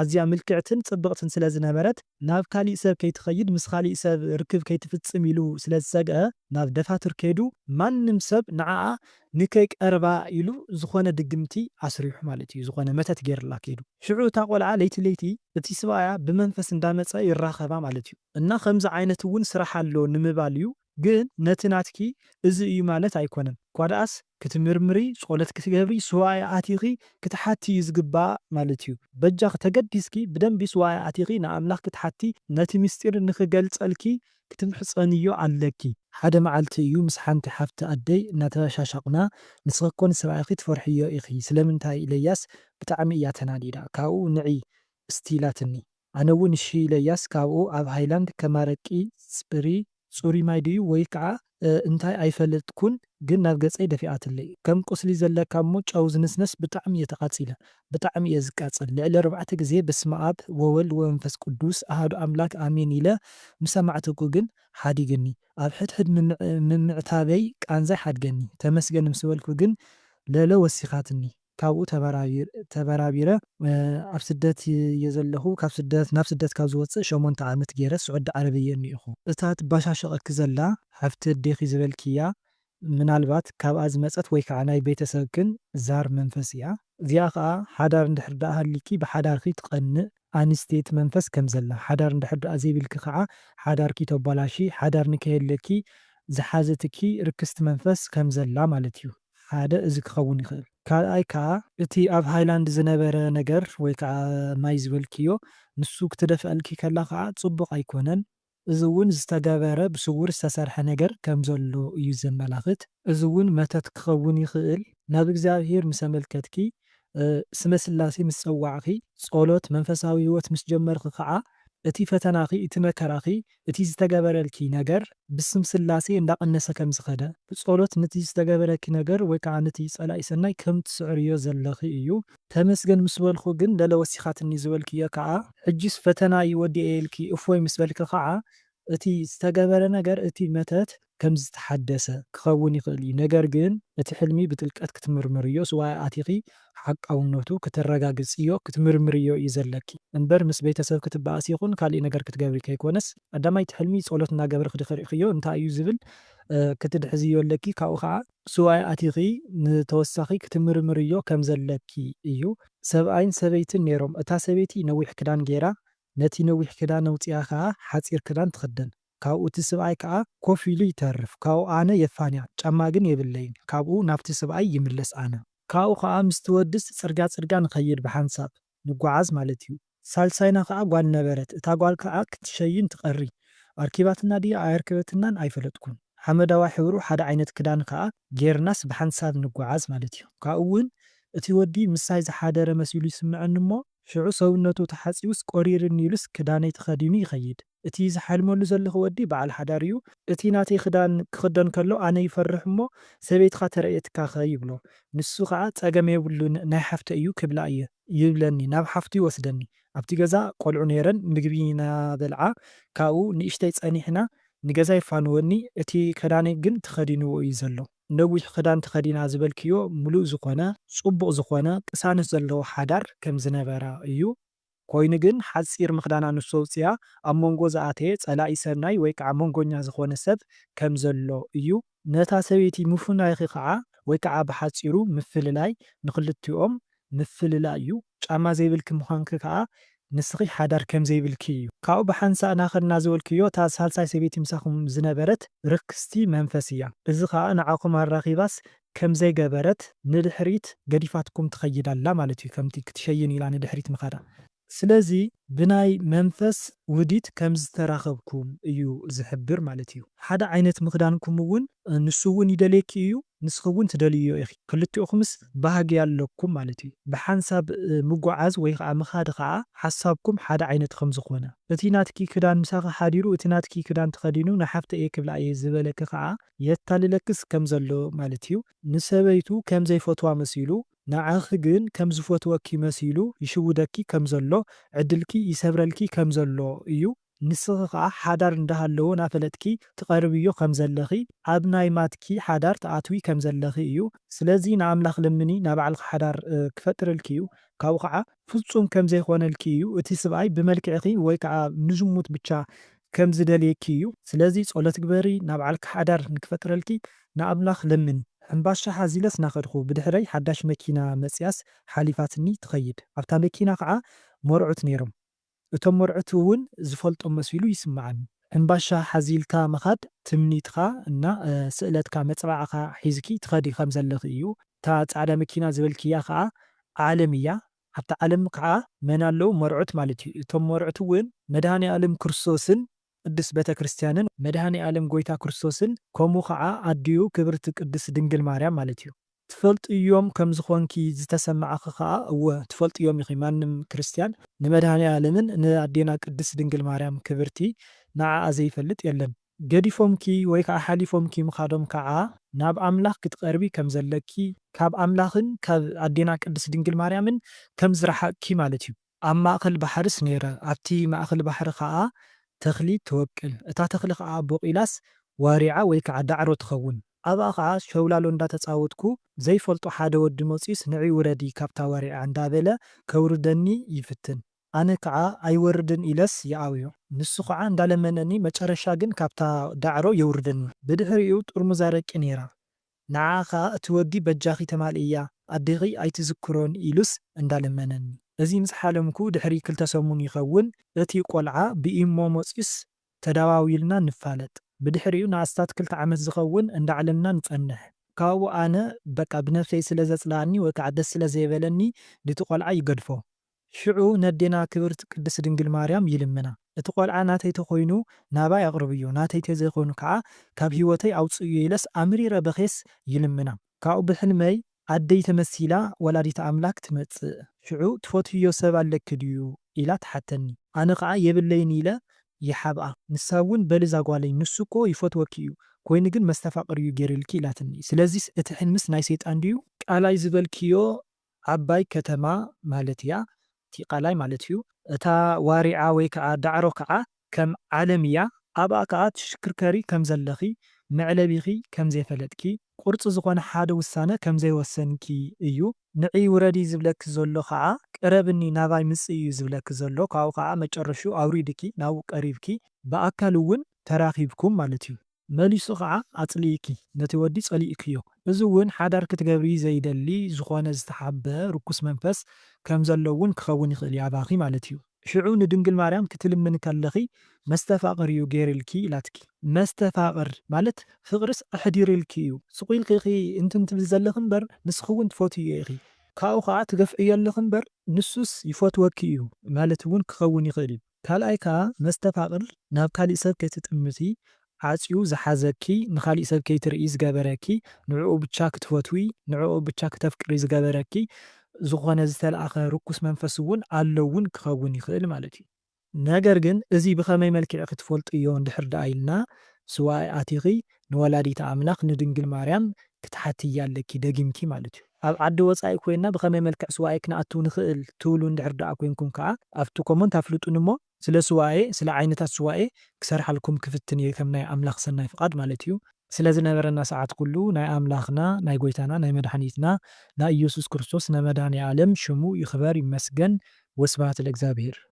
ኣዝያ ምልክዕትን ጽብቕትን ስለ ዝነበረት ናብ ካሊእ ሰብ ከይትኸይድ ምስ ኻሊእ ሰብ ርክብ ከይትፍጽም ኢሉ ስለ ዝሰግኣ ናብ ደፋትር ከይዱ ማንም ሰብ ንዓኣ ንከይቀርባ ኢሉ ዝኾነ ድግምቲ ኣስሪሑ ማለት እዩ ዝኾነ መተት ገይርላ ከይዱ ሽዑ እታ ቆልዓ ለይቲ ለይቲ እቲ ስብኣያ ብመንፈስ እንዳመጸ ይራኸባ ማለት እዩ እና ኸምዚ ዓይነት እውን ስራሕ ኣሎ ንምባል እዩ። ግን ነቲ ናትኪ እዚ እዩ ማለት ኣይኮነን ኳድኣስ ክትምርምሪ ጾለት ክትገብሪ ሱባኤ ኣቲኺ ክትሓቲ እዩ ዝግባእ ማለት እዩ በጃኺ ተገዲስኪ ብደንቢ ሱባኤ ኣቲኺ ንኣምላኽኪ ትሓቲ ነቲ ምስጢር ንኽገልጸልኪ ክትምሕጸንዮ ኣለኪ። ሓደ መዓልቲ እዩ ምስ ሓንቲ ሓፍቲ ኣደይ እናተበሻሻቅና ንስኺ እኮ ንሰብኣይኺ ትፈርሕዮ ኢኺ ስለምንታይ ኢለያስ ብጣዕሚ እያ ተናዲዳ ካብኡ ንዒ እስቲ ኢላትኒ ኣነ ውን እሺ ኢለያስ ካብኡ ኣብ ሃይላንድ ከም ኣረቂ ጽሪ ጹሩይ ማይ ድዩ ወይ ክኣ እንታይ ኣይፈልጥኩን ግን ናብ ገጸይ ደፊኣትለይ ከም ቁስሊ ዘለካ እሞ ጨው ዝንስነስ ብጣዕሚ እየ ተቃጺለ ብጣዕሚ እየ ዝቃጸል ልዕሊ ኣርባዕተ ግዜ በስመኣብ ወወልድ ወመንፈስ ቁዱስ ኣሃዱ ኣምላክ ኣሜን ኢለ ምስ ኣማዕተኩ ግን ሓዲግኒ ኣብ ሕድሕድ ምምዕታበይ ቃንዛይ ሓድገኒ ተመስገን ምስ በልኩ ግን ለለ ወሲካትኒ ካብኡ ተበራቢረ ኣብ ስደት እየ ዘለኹ። ካብ ስደት ናብ ስደት ካብ ዝወጽእ ሸሞንተ ዓመት ገይረ ስዑዲ ዓረብ እየ እኒኤኹ። እታ ትበሻሸቐኪ ዘላ ሓፍቲ ኣዴኺ ዝበልክያ ምናልባት ካብኣ ዝመጸት ወይ ከዓ ናይ ቤተሰብክን ዛር መንፈስ እያ። እዚኣ ከዓ ሓዳር እንድሕር ደኣ ሃልይኪ ብሓዳርኪ ትቐንእ ኣንስተይቲ መንፈስ ከም ዘላ፣ ሓዳር እንድሕር ደኣ ዘይብልኪ ከዓ ሓዳርኪ ተባላሽይ፣ ሓዳር ንከየለኪ ዝሓዘትኪ ርክስቲ መንፈስ ከም ዘላ ማለት እዩ። ሓደ እዚ ክኸውን ይኽእል። ካልኣይ ከኣ እቲ ኣብ ሃይላንድ ዝነበረ ነገር ወይ ከኣ ማይ ዝበልክዮ ንሱ ክትደፍኣልኪ ከላ ከኣ ጽቡቕ ኣይኮነን። እዚ እውን ዝተገበረ ብስውር ዝተሰርሐ ነገር ከም ዘሎ እዩ ዘመላኽት። እዚ እውን መተት ክኸውን ይኽእል። ናብ እግዚኣብሔር ምስ ኣመልከትኪ፣ ስመ ሥላሴ ምስ ጸዋዕኺ፣ ጸሎት፣ መንፈሳዊ ሕይወት ምስ ጀመርኺ ከኣ እቲ ፈተናኺ እቲ መከራኺ እቲ ዝተገበረልኪ ነገር ብስም ስላሴ እንዳቀነሰ ከም ዝኸደ ብጾሎት ንቲ ዝተገበረኪ ነገር ወይ ካዓ ንቲ ጸላኢ ሰናይ ከም ትስዕርዮ ዘለኺ እዩ። ተመስገን ምስ በልኩ ግን ለለ ወሲኻትኒ ዝበልክዮ ካዓ ሕጂስ ፈተናይ ወዲኤ ኢልኪ እፎይ ምስ በልኪ ካዓ እቲ ዝተገበረ ነገር እቲ መተት ከም ዝተሓደሰ ክኸውን ይኽእል እዩ፣ ነገር ግን እቲ ሕልሚ ብጥልቀት ክትምርምርዮ ሱባኤ ኣቲኺ ሓቃውነቱ ክተረጋግጽዮ ክትምርምርዮ እዩ ዘለኪ እምበር ምስ ቤተሰብ ክትባኣሲ ይኹን ካሊእ ነገር ክትገብሪ ከይኮነስ ቀዳማይ እቲ ሕልሚ ጸሎት እናገበርኺ ድኺ ሪእኽዮ እንታይ እዩ ዝብል ክትድሕዝዮ ኣለኪ ካብኡ ካዓ ሱባኤ ኣቲኺ ንተወሳኺ ክትምርምርዮ ከም ዘለኪ እዩ። ሰብኣይን ሰበይትን ኔሮም እታ ሰበይቲ ነዊሕ ክዳን ጌራ ነቲ ነዊሕ ክዳን ኣውጺኣ ካዓ ሓጺር ክዳን ትኽደን ካብኡ እቲ ስብኣይ ከኣ ኮፍ ኢሉ ይተርፍ ካብኡ ኣነ የፋንያ ጫማ ግን የብለይን ካብኡ ናብቲ ስብኣይ ይምለስ ኣነ ካብኡ ከኣ ምስቲ ወድስ ጽርግያ ጽርግያ ንከይድ ብሓንሳብ ንጎዓዝ ማለት እዩ ሳልሳይና ከኣ ጓል ነበረት እታ ጓል ከኣ ክትሸይን ትቀሪ ኣርኪባትና ድያ ኣየርክበትናን ኣይፈለጥኩን ሓመዳዋይ ሕብሩ ሓደ ዓይነት ክዳን ከኣ ጌርናስ ብሓንሳብ ንጎዓዝ ማለት እዩ ካብኡ ውን እቲ ወዲ ምሳይ ዝሓደረ መሲሉ ይስመዐኒ እሞ ሽዑ ሰውነቱ ተሓጺቡስ ቆሪርኒ ኢሉስ ክዳነይ ተከዲኑ ይከይድ እቲ ዝሓልመሉ ዘለኹ ወዲ በዓል ሓዳር እዩ። እቲ ናተይ ክዳን ክኽደን ከሎ ኣነ ይፈርሕ እሞ ሰበይትኻ ተርእየትካኸ ይብሎ። ንሱ ከኣ ጸገም የብሉን ናይ ሓፍተይ እዩ ክብላ እየ ይብለኒ ናብ ሓፍቱ ይወስደኒ። ኣብቲ ገዛ ቆልዑ ነይረን ምግቢ እናበልዓ ካብኡ ንእሽተይ ጸኒሕና ንገዛ የፋንወኒ እቲ ክዳነይ ግን ተኸዲንዎ እዩ ዘሎ። ነዊሕ ክዳን ተኸዲና ዝበልክዮ ምሉእ ዝኾነ፣ ጽቡቕ ዝኾነ ቅሳነት ዘለዎ ሓዳር ከም ዝነበራ እዩ። ኮይኑ ግን ሓጺር ምኽዳና ንሱ ኣውጺኣ ኣብ መንጎ ዝኣተየ ጸላኢ ሰናይ ወይ ከኣ መንጎኛ ዝኾነ ሰብ ከም ዘሎ እዩ። ነታ ሰበይቲ ምፉናይኪ ከኣ ወይ ከኣ ብሓጺሩ ምፍልላይ ንኽልቲኦም ምፍልላይ እዩ። ጫማ ዘይብልኪ ምዃንኪ ከኣ ንስኺ ሓዳር ከም ዘይብልኪ እዩ። ካብኡ ብሓንሳእ ናኸድና ዝበልክዮ እታ ሳልሳይ ሰበይቲ ምሳኹም ዝነበረት ርክስቲ መንፈስ እያ። እዚ ከኣ ንዓኹም ኣራኺባስ ከምዘይገበረት ንድሕሪት ገዲፋትኩም ትኸይድ ኣላ ማለት እዩ ከምቲ ክትሸይን ኢላ ንድሕሪት ምኻዳ። ስለዚ ብናይ መንፈስ ውዲት ከምዝተራኸብኩም እዩ ዝሕብር ማለት እዩ። ሓደ ዓይነት ምኽዳንኩም እውን ንሱ እውን ይደልየኪ እዩ ንስኺ እውን ትደልይዮ ኢኺ ክልቲኦኹምስ ባህጊ ኣለኩም ማለት እዩ። ብሓንሳብ ምጉዓዝ ወይ ኸዓ ምኻድ ኸዓ ሓሳብኩም ሓደ ዓይነት ከምዝኾነ። እቲ ናትኪ ክዳን ምሳኺ ሓዲሩ እቲ ናትኪ ክዳን ተኸዲኑ ንሓፍተይ እየ ክብላ እየ ዝበለኪ ኸዓ የታልለክስ ከም ዘሎ ማለት እዩ። ንሰበይቱ ከም ዘይፈትዋ መሲሉ፣ ንዓኺ ግን ከም ዝፈትወኪ መሲሉ ይሽውደኪ ከም ዘሎ፣ ዕድልኪ ይሰብረልኪ ከም ዘሎ እዩ። ንስኺ ከኣ ሓዳር እንዳ ሃለዎ ናፈለጥኪ ትቀርብዮ ከም ዘለኺ፣ ኣብ ናይ ማትኪ ሓዳር ትኣትዊ ከም ዘለኺ እዩ። ስለዚ ንኣምላኽ ለምኒ ናባዕልኺ ሓዳር ክፈጥረልኪ እዩ። ካብኡ ከኣ ፍጹም ከም ዘይኮነልኪ እዩ እቲ ስብኣይ ብመልክዕኪ ወይ ከኣ ንዝሙት ብቻ ከም ዝደልየኪ እዩ ስለዚ ጾሎት ግበሪ ናብ ዓልኪ ሓዳር ንክፈጥረልኪ ንኣምላክ ለምኒ ሕንባሻ ሓዚለስ ናከድኩ ብድሕረይ ሓዳሽ መኪና መጽያስ ሓሊፋትኒ ትከይድ ኣብታ መኪና ከኣ መርዑት ነይሮም እቶም መርዑት እውን ዝፈልጦም መሲሉ ይስመዓኒ። ሕንባሻ ሓዚልካ ምኻድ ትምኒትካ እና ስእለትካ መጸባዕኻ ሒዝኪ ትኸዲ ከም ዘለኺ እዩ። እታ ጻዕዳ መኪና ዝበልክያ ከኣ ዓለም እያ። ኣብታ ዓለም ከኣ መን ኣለዉ? መርዑት ማለት እዩ። እቶም መርዑት እውን መድሃኔኣልም ክርስቶስን ቅድስት ቤተ ክርስቲያንን። መድሃኔኣልም ጎይታ ክርስቶስን ከምኡ ከኣ ኣዲኡ ክብርቲ ቅድስት ድንግል ማርያም ማለት እዩ። ትፈልጥዮም ከም ዝኾንኪ ዝተሰመዓኺ ከኣ እወ ትፈልጥዮም ኢኺ ማንም ክርስትያን ንመድሃኒኣለምን ንኣዴና ቅድስት ድንግል ማርያም ክብርቲ ንዓኣ ዘይፈልጥ የለን። ገዲፎምኪ ወይ ከኣ ሓሊፎምኪ ምኻዶም ከኣ ናብ ኣምላኽ ክትቐርቢ ከም ዘለኪ ካብ ኣምላኽን ካብ ኣዴና ቅድስት ድንግል ማርያምን ከም ዝረሓቕኪ ማለት እዩ። ኣብ ማእከል ባሕርስ ነይረ፣ ኣብቲ ማእከል ባሕሪ ኸኣ ተኽሊ ትወቅል፣ እታ ተኽሊ ኸኣ ቦቒላስ ዋሪዓ ወይ ከዓ ዳዕሮ ትኸውን፣ ኣብኣ ኸዓ ሸውላሎ እንዳ ተጻወትኩ፣ ዘይፈልጦ ሓደ ወዲ መጺኡስ ንዒ ውረዲ ካብታ ዋሪዓ እንዳ በለ ከውርደኒ ይፍትን፣ ኣነ ከዓ ኣይወርድን ኢለስ ይኣብዮ፣ ንሱ ኸዓ እንዳ ለመነኒ መጨረሻ ግን ካብታ ዳዕሮ የውርደኒ። ብድሕሪኡ ጥርሙዝ ኣረቂ ነይራ፣ ንዓ ከኣ እቲ ወዲ በጃኺ ተማልእያ ኣዴኺ ኣይትዝክሮን ኢሉስ እንዳ ለመነኒ እዚ ምስ ሓለምኩ ድሕሪ ክልተ ሰሙን ይኸውን እቲ ቆልዓ ብኢሞ መጽዩስ ተዳዋዊልና ንፋለጥ ብድሕሪኡ ንኣስታት ክልተ ዓመት ዝኸውን እንዳ ዓለምና ንጸንሕ ካብኡ ኣነ በቃ ብነብሰይ ስለ ዘጽልኣኒ ወይ ከኣ ደስ ስለ ዘይበለኒ ንቲ ቆልዓ ይገድፎ ሽዑ ነዴና ክብርት ቅድስት ድንግል ማርያም ይልምና እቲ ቆልዓ ናተይ ተኮይኑ ናባይ ኣቅርብዮ ናተይ ተዘይኮይኑ ካኣ ካብ ሂወተይ ኣውፅእዮ ኢለስ ኣምሪረ በክየስ ይልምና ካኡ ብሕልመይ ኣደይ ተመሲላ ወላዲተ ኣምላክ ትመፅእ ሽዑ ትፈትውዮ ሰብ ኣለኪ ድዩ ኢላ ትሓተኒ ኣነ ካኣ የብለይን ኢለ ይሓብኣ ንሳ እውን በሊ ዛጓለይ ንሱ እኮ ይፈትወኪ እዩ ኮይኑ ግን መስተፋቅር እዩ ገይርልኪ ኢላትኒ ስለዚስ እቲ ሕልምስ ናይ ሰይጣን ድዩ ቃላይ ዝበልክዮ ዓባይ ከተማ ማለት እያ፣ እቲ ቃላይ ማለት እዩ። እታ ዋሪዓ ወይ ከኣ ዳዕሮ ከኣ ከም ዓለም እያ፣ ኣብኣ ከኣ ትሽክርከሪ ከም ዘለኺ፣ መዕለቢኺ ከም ዘይፈለጥኪ፣ ቁርጺ ዝኾነ ሓደ ውሳነ ከም ዘይወሰንኪ እዩ። ንዒ ውረዲ ዝብለኪ ዘሎ ከኣ ቅረብኒ ናባይ ምጺ እዩ ዝብለኪ ዘሎ፣ ካብኡ ከኣ መጨረሽኡ ኣውሪድኪ ናብኡ ቀሪብኪ ብኣካል እውን ተራኺብኩም ማለት እዩ። መሊሱ ኸኣ ኣጽሊኢኪ ነቲ ወዲ ጸሊኢክዮ። እዚ እውን ሓዳር ክትገብሪ ዘይደሊ ዝኾነ ዝተሓብበ ርኩስ መንፈስ ከም ዘሎ እውን ክኸውን ይኽእል እዩ ኣባኺ ማለት እዩ። ሽዑ ንድንግል ማርያም ክትልምኒ ከለኺ መስተፋቕር እዩ ገይርልኪ ኢላትኪ። መስተፋቕር ማለት ፍቕርስ ኣሕዲርልኪ እዩ። ስቕ ኢልኪ ኢኺ እንትን ትብሊ ዘለኺ እምበር ንስኺ እውን ትፈትይዮ ኢኺ። ካብኡ ኸኣ ትገፍዕዮ ኣለኺ እምበር ንሱስ ይፈትወኪ እዩ ማለት እውን ክኸውን ይኽእል እዩ። ካልኣይ ከኣ መስተፋቕር ናብ ካሊእ ሰብ ከይትጥምቲ ዓጽዩ ዝሓዘኪ ንኻሊእ ሰብ ከይትርእዪ ዝገበረኪ ንዕኡ ብቻ ክትፈትዊ ንዕኡ ብቻ ክተፍቅሪ ዝገበረኪ ዝኾነ ዝተልኣኸ ርኩስ መንፈስ እውን ኣሎ እውን ክኸውን ይኽእል ማለት እዩ። ነገር ግን እዚ ብኸመይ መልክዕ ክትፈልጥዮ እንድሕር ደኣ ኢልና ስውኣይ ኣቲኺ ንወላዲተ ኣምላኽ ንድንግል ማርያም ክትሓትያ ኣለኪ ደጊምኪ ማለት እዩ። ኣብ ዓዲ ወጻኢ ኮይና ብኸመይ መልክዕ ሱባኤ ክንኣትው ንኽእል ትብሉ እንድሕር ደኣ ኮይንኩም ከኣ ኣብቲ ኮሞንት ኣፍልጡኒ እሞ ስለ ሱባኤ ስለ ዓይነታት ሱባኤ ክሰርሓልኩም ክፍትን እየ ከም ናይ ኣምላኽ ሰናይ ፍቓድ ማለት እዩ። ስለ ዝነበረና ሰዓት ኩሉ ናይ ኣምላኽና ናይ ጎይታና ናይ መድሓኒትና ናይ ኢየሱስ ክርስቶስ ናይ መድሃኔ ኣለም ሽሙ ይኽበር ይመስገን ወስብሃት ለእግዚኣብሔር።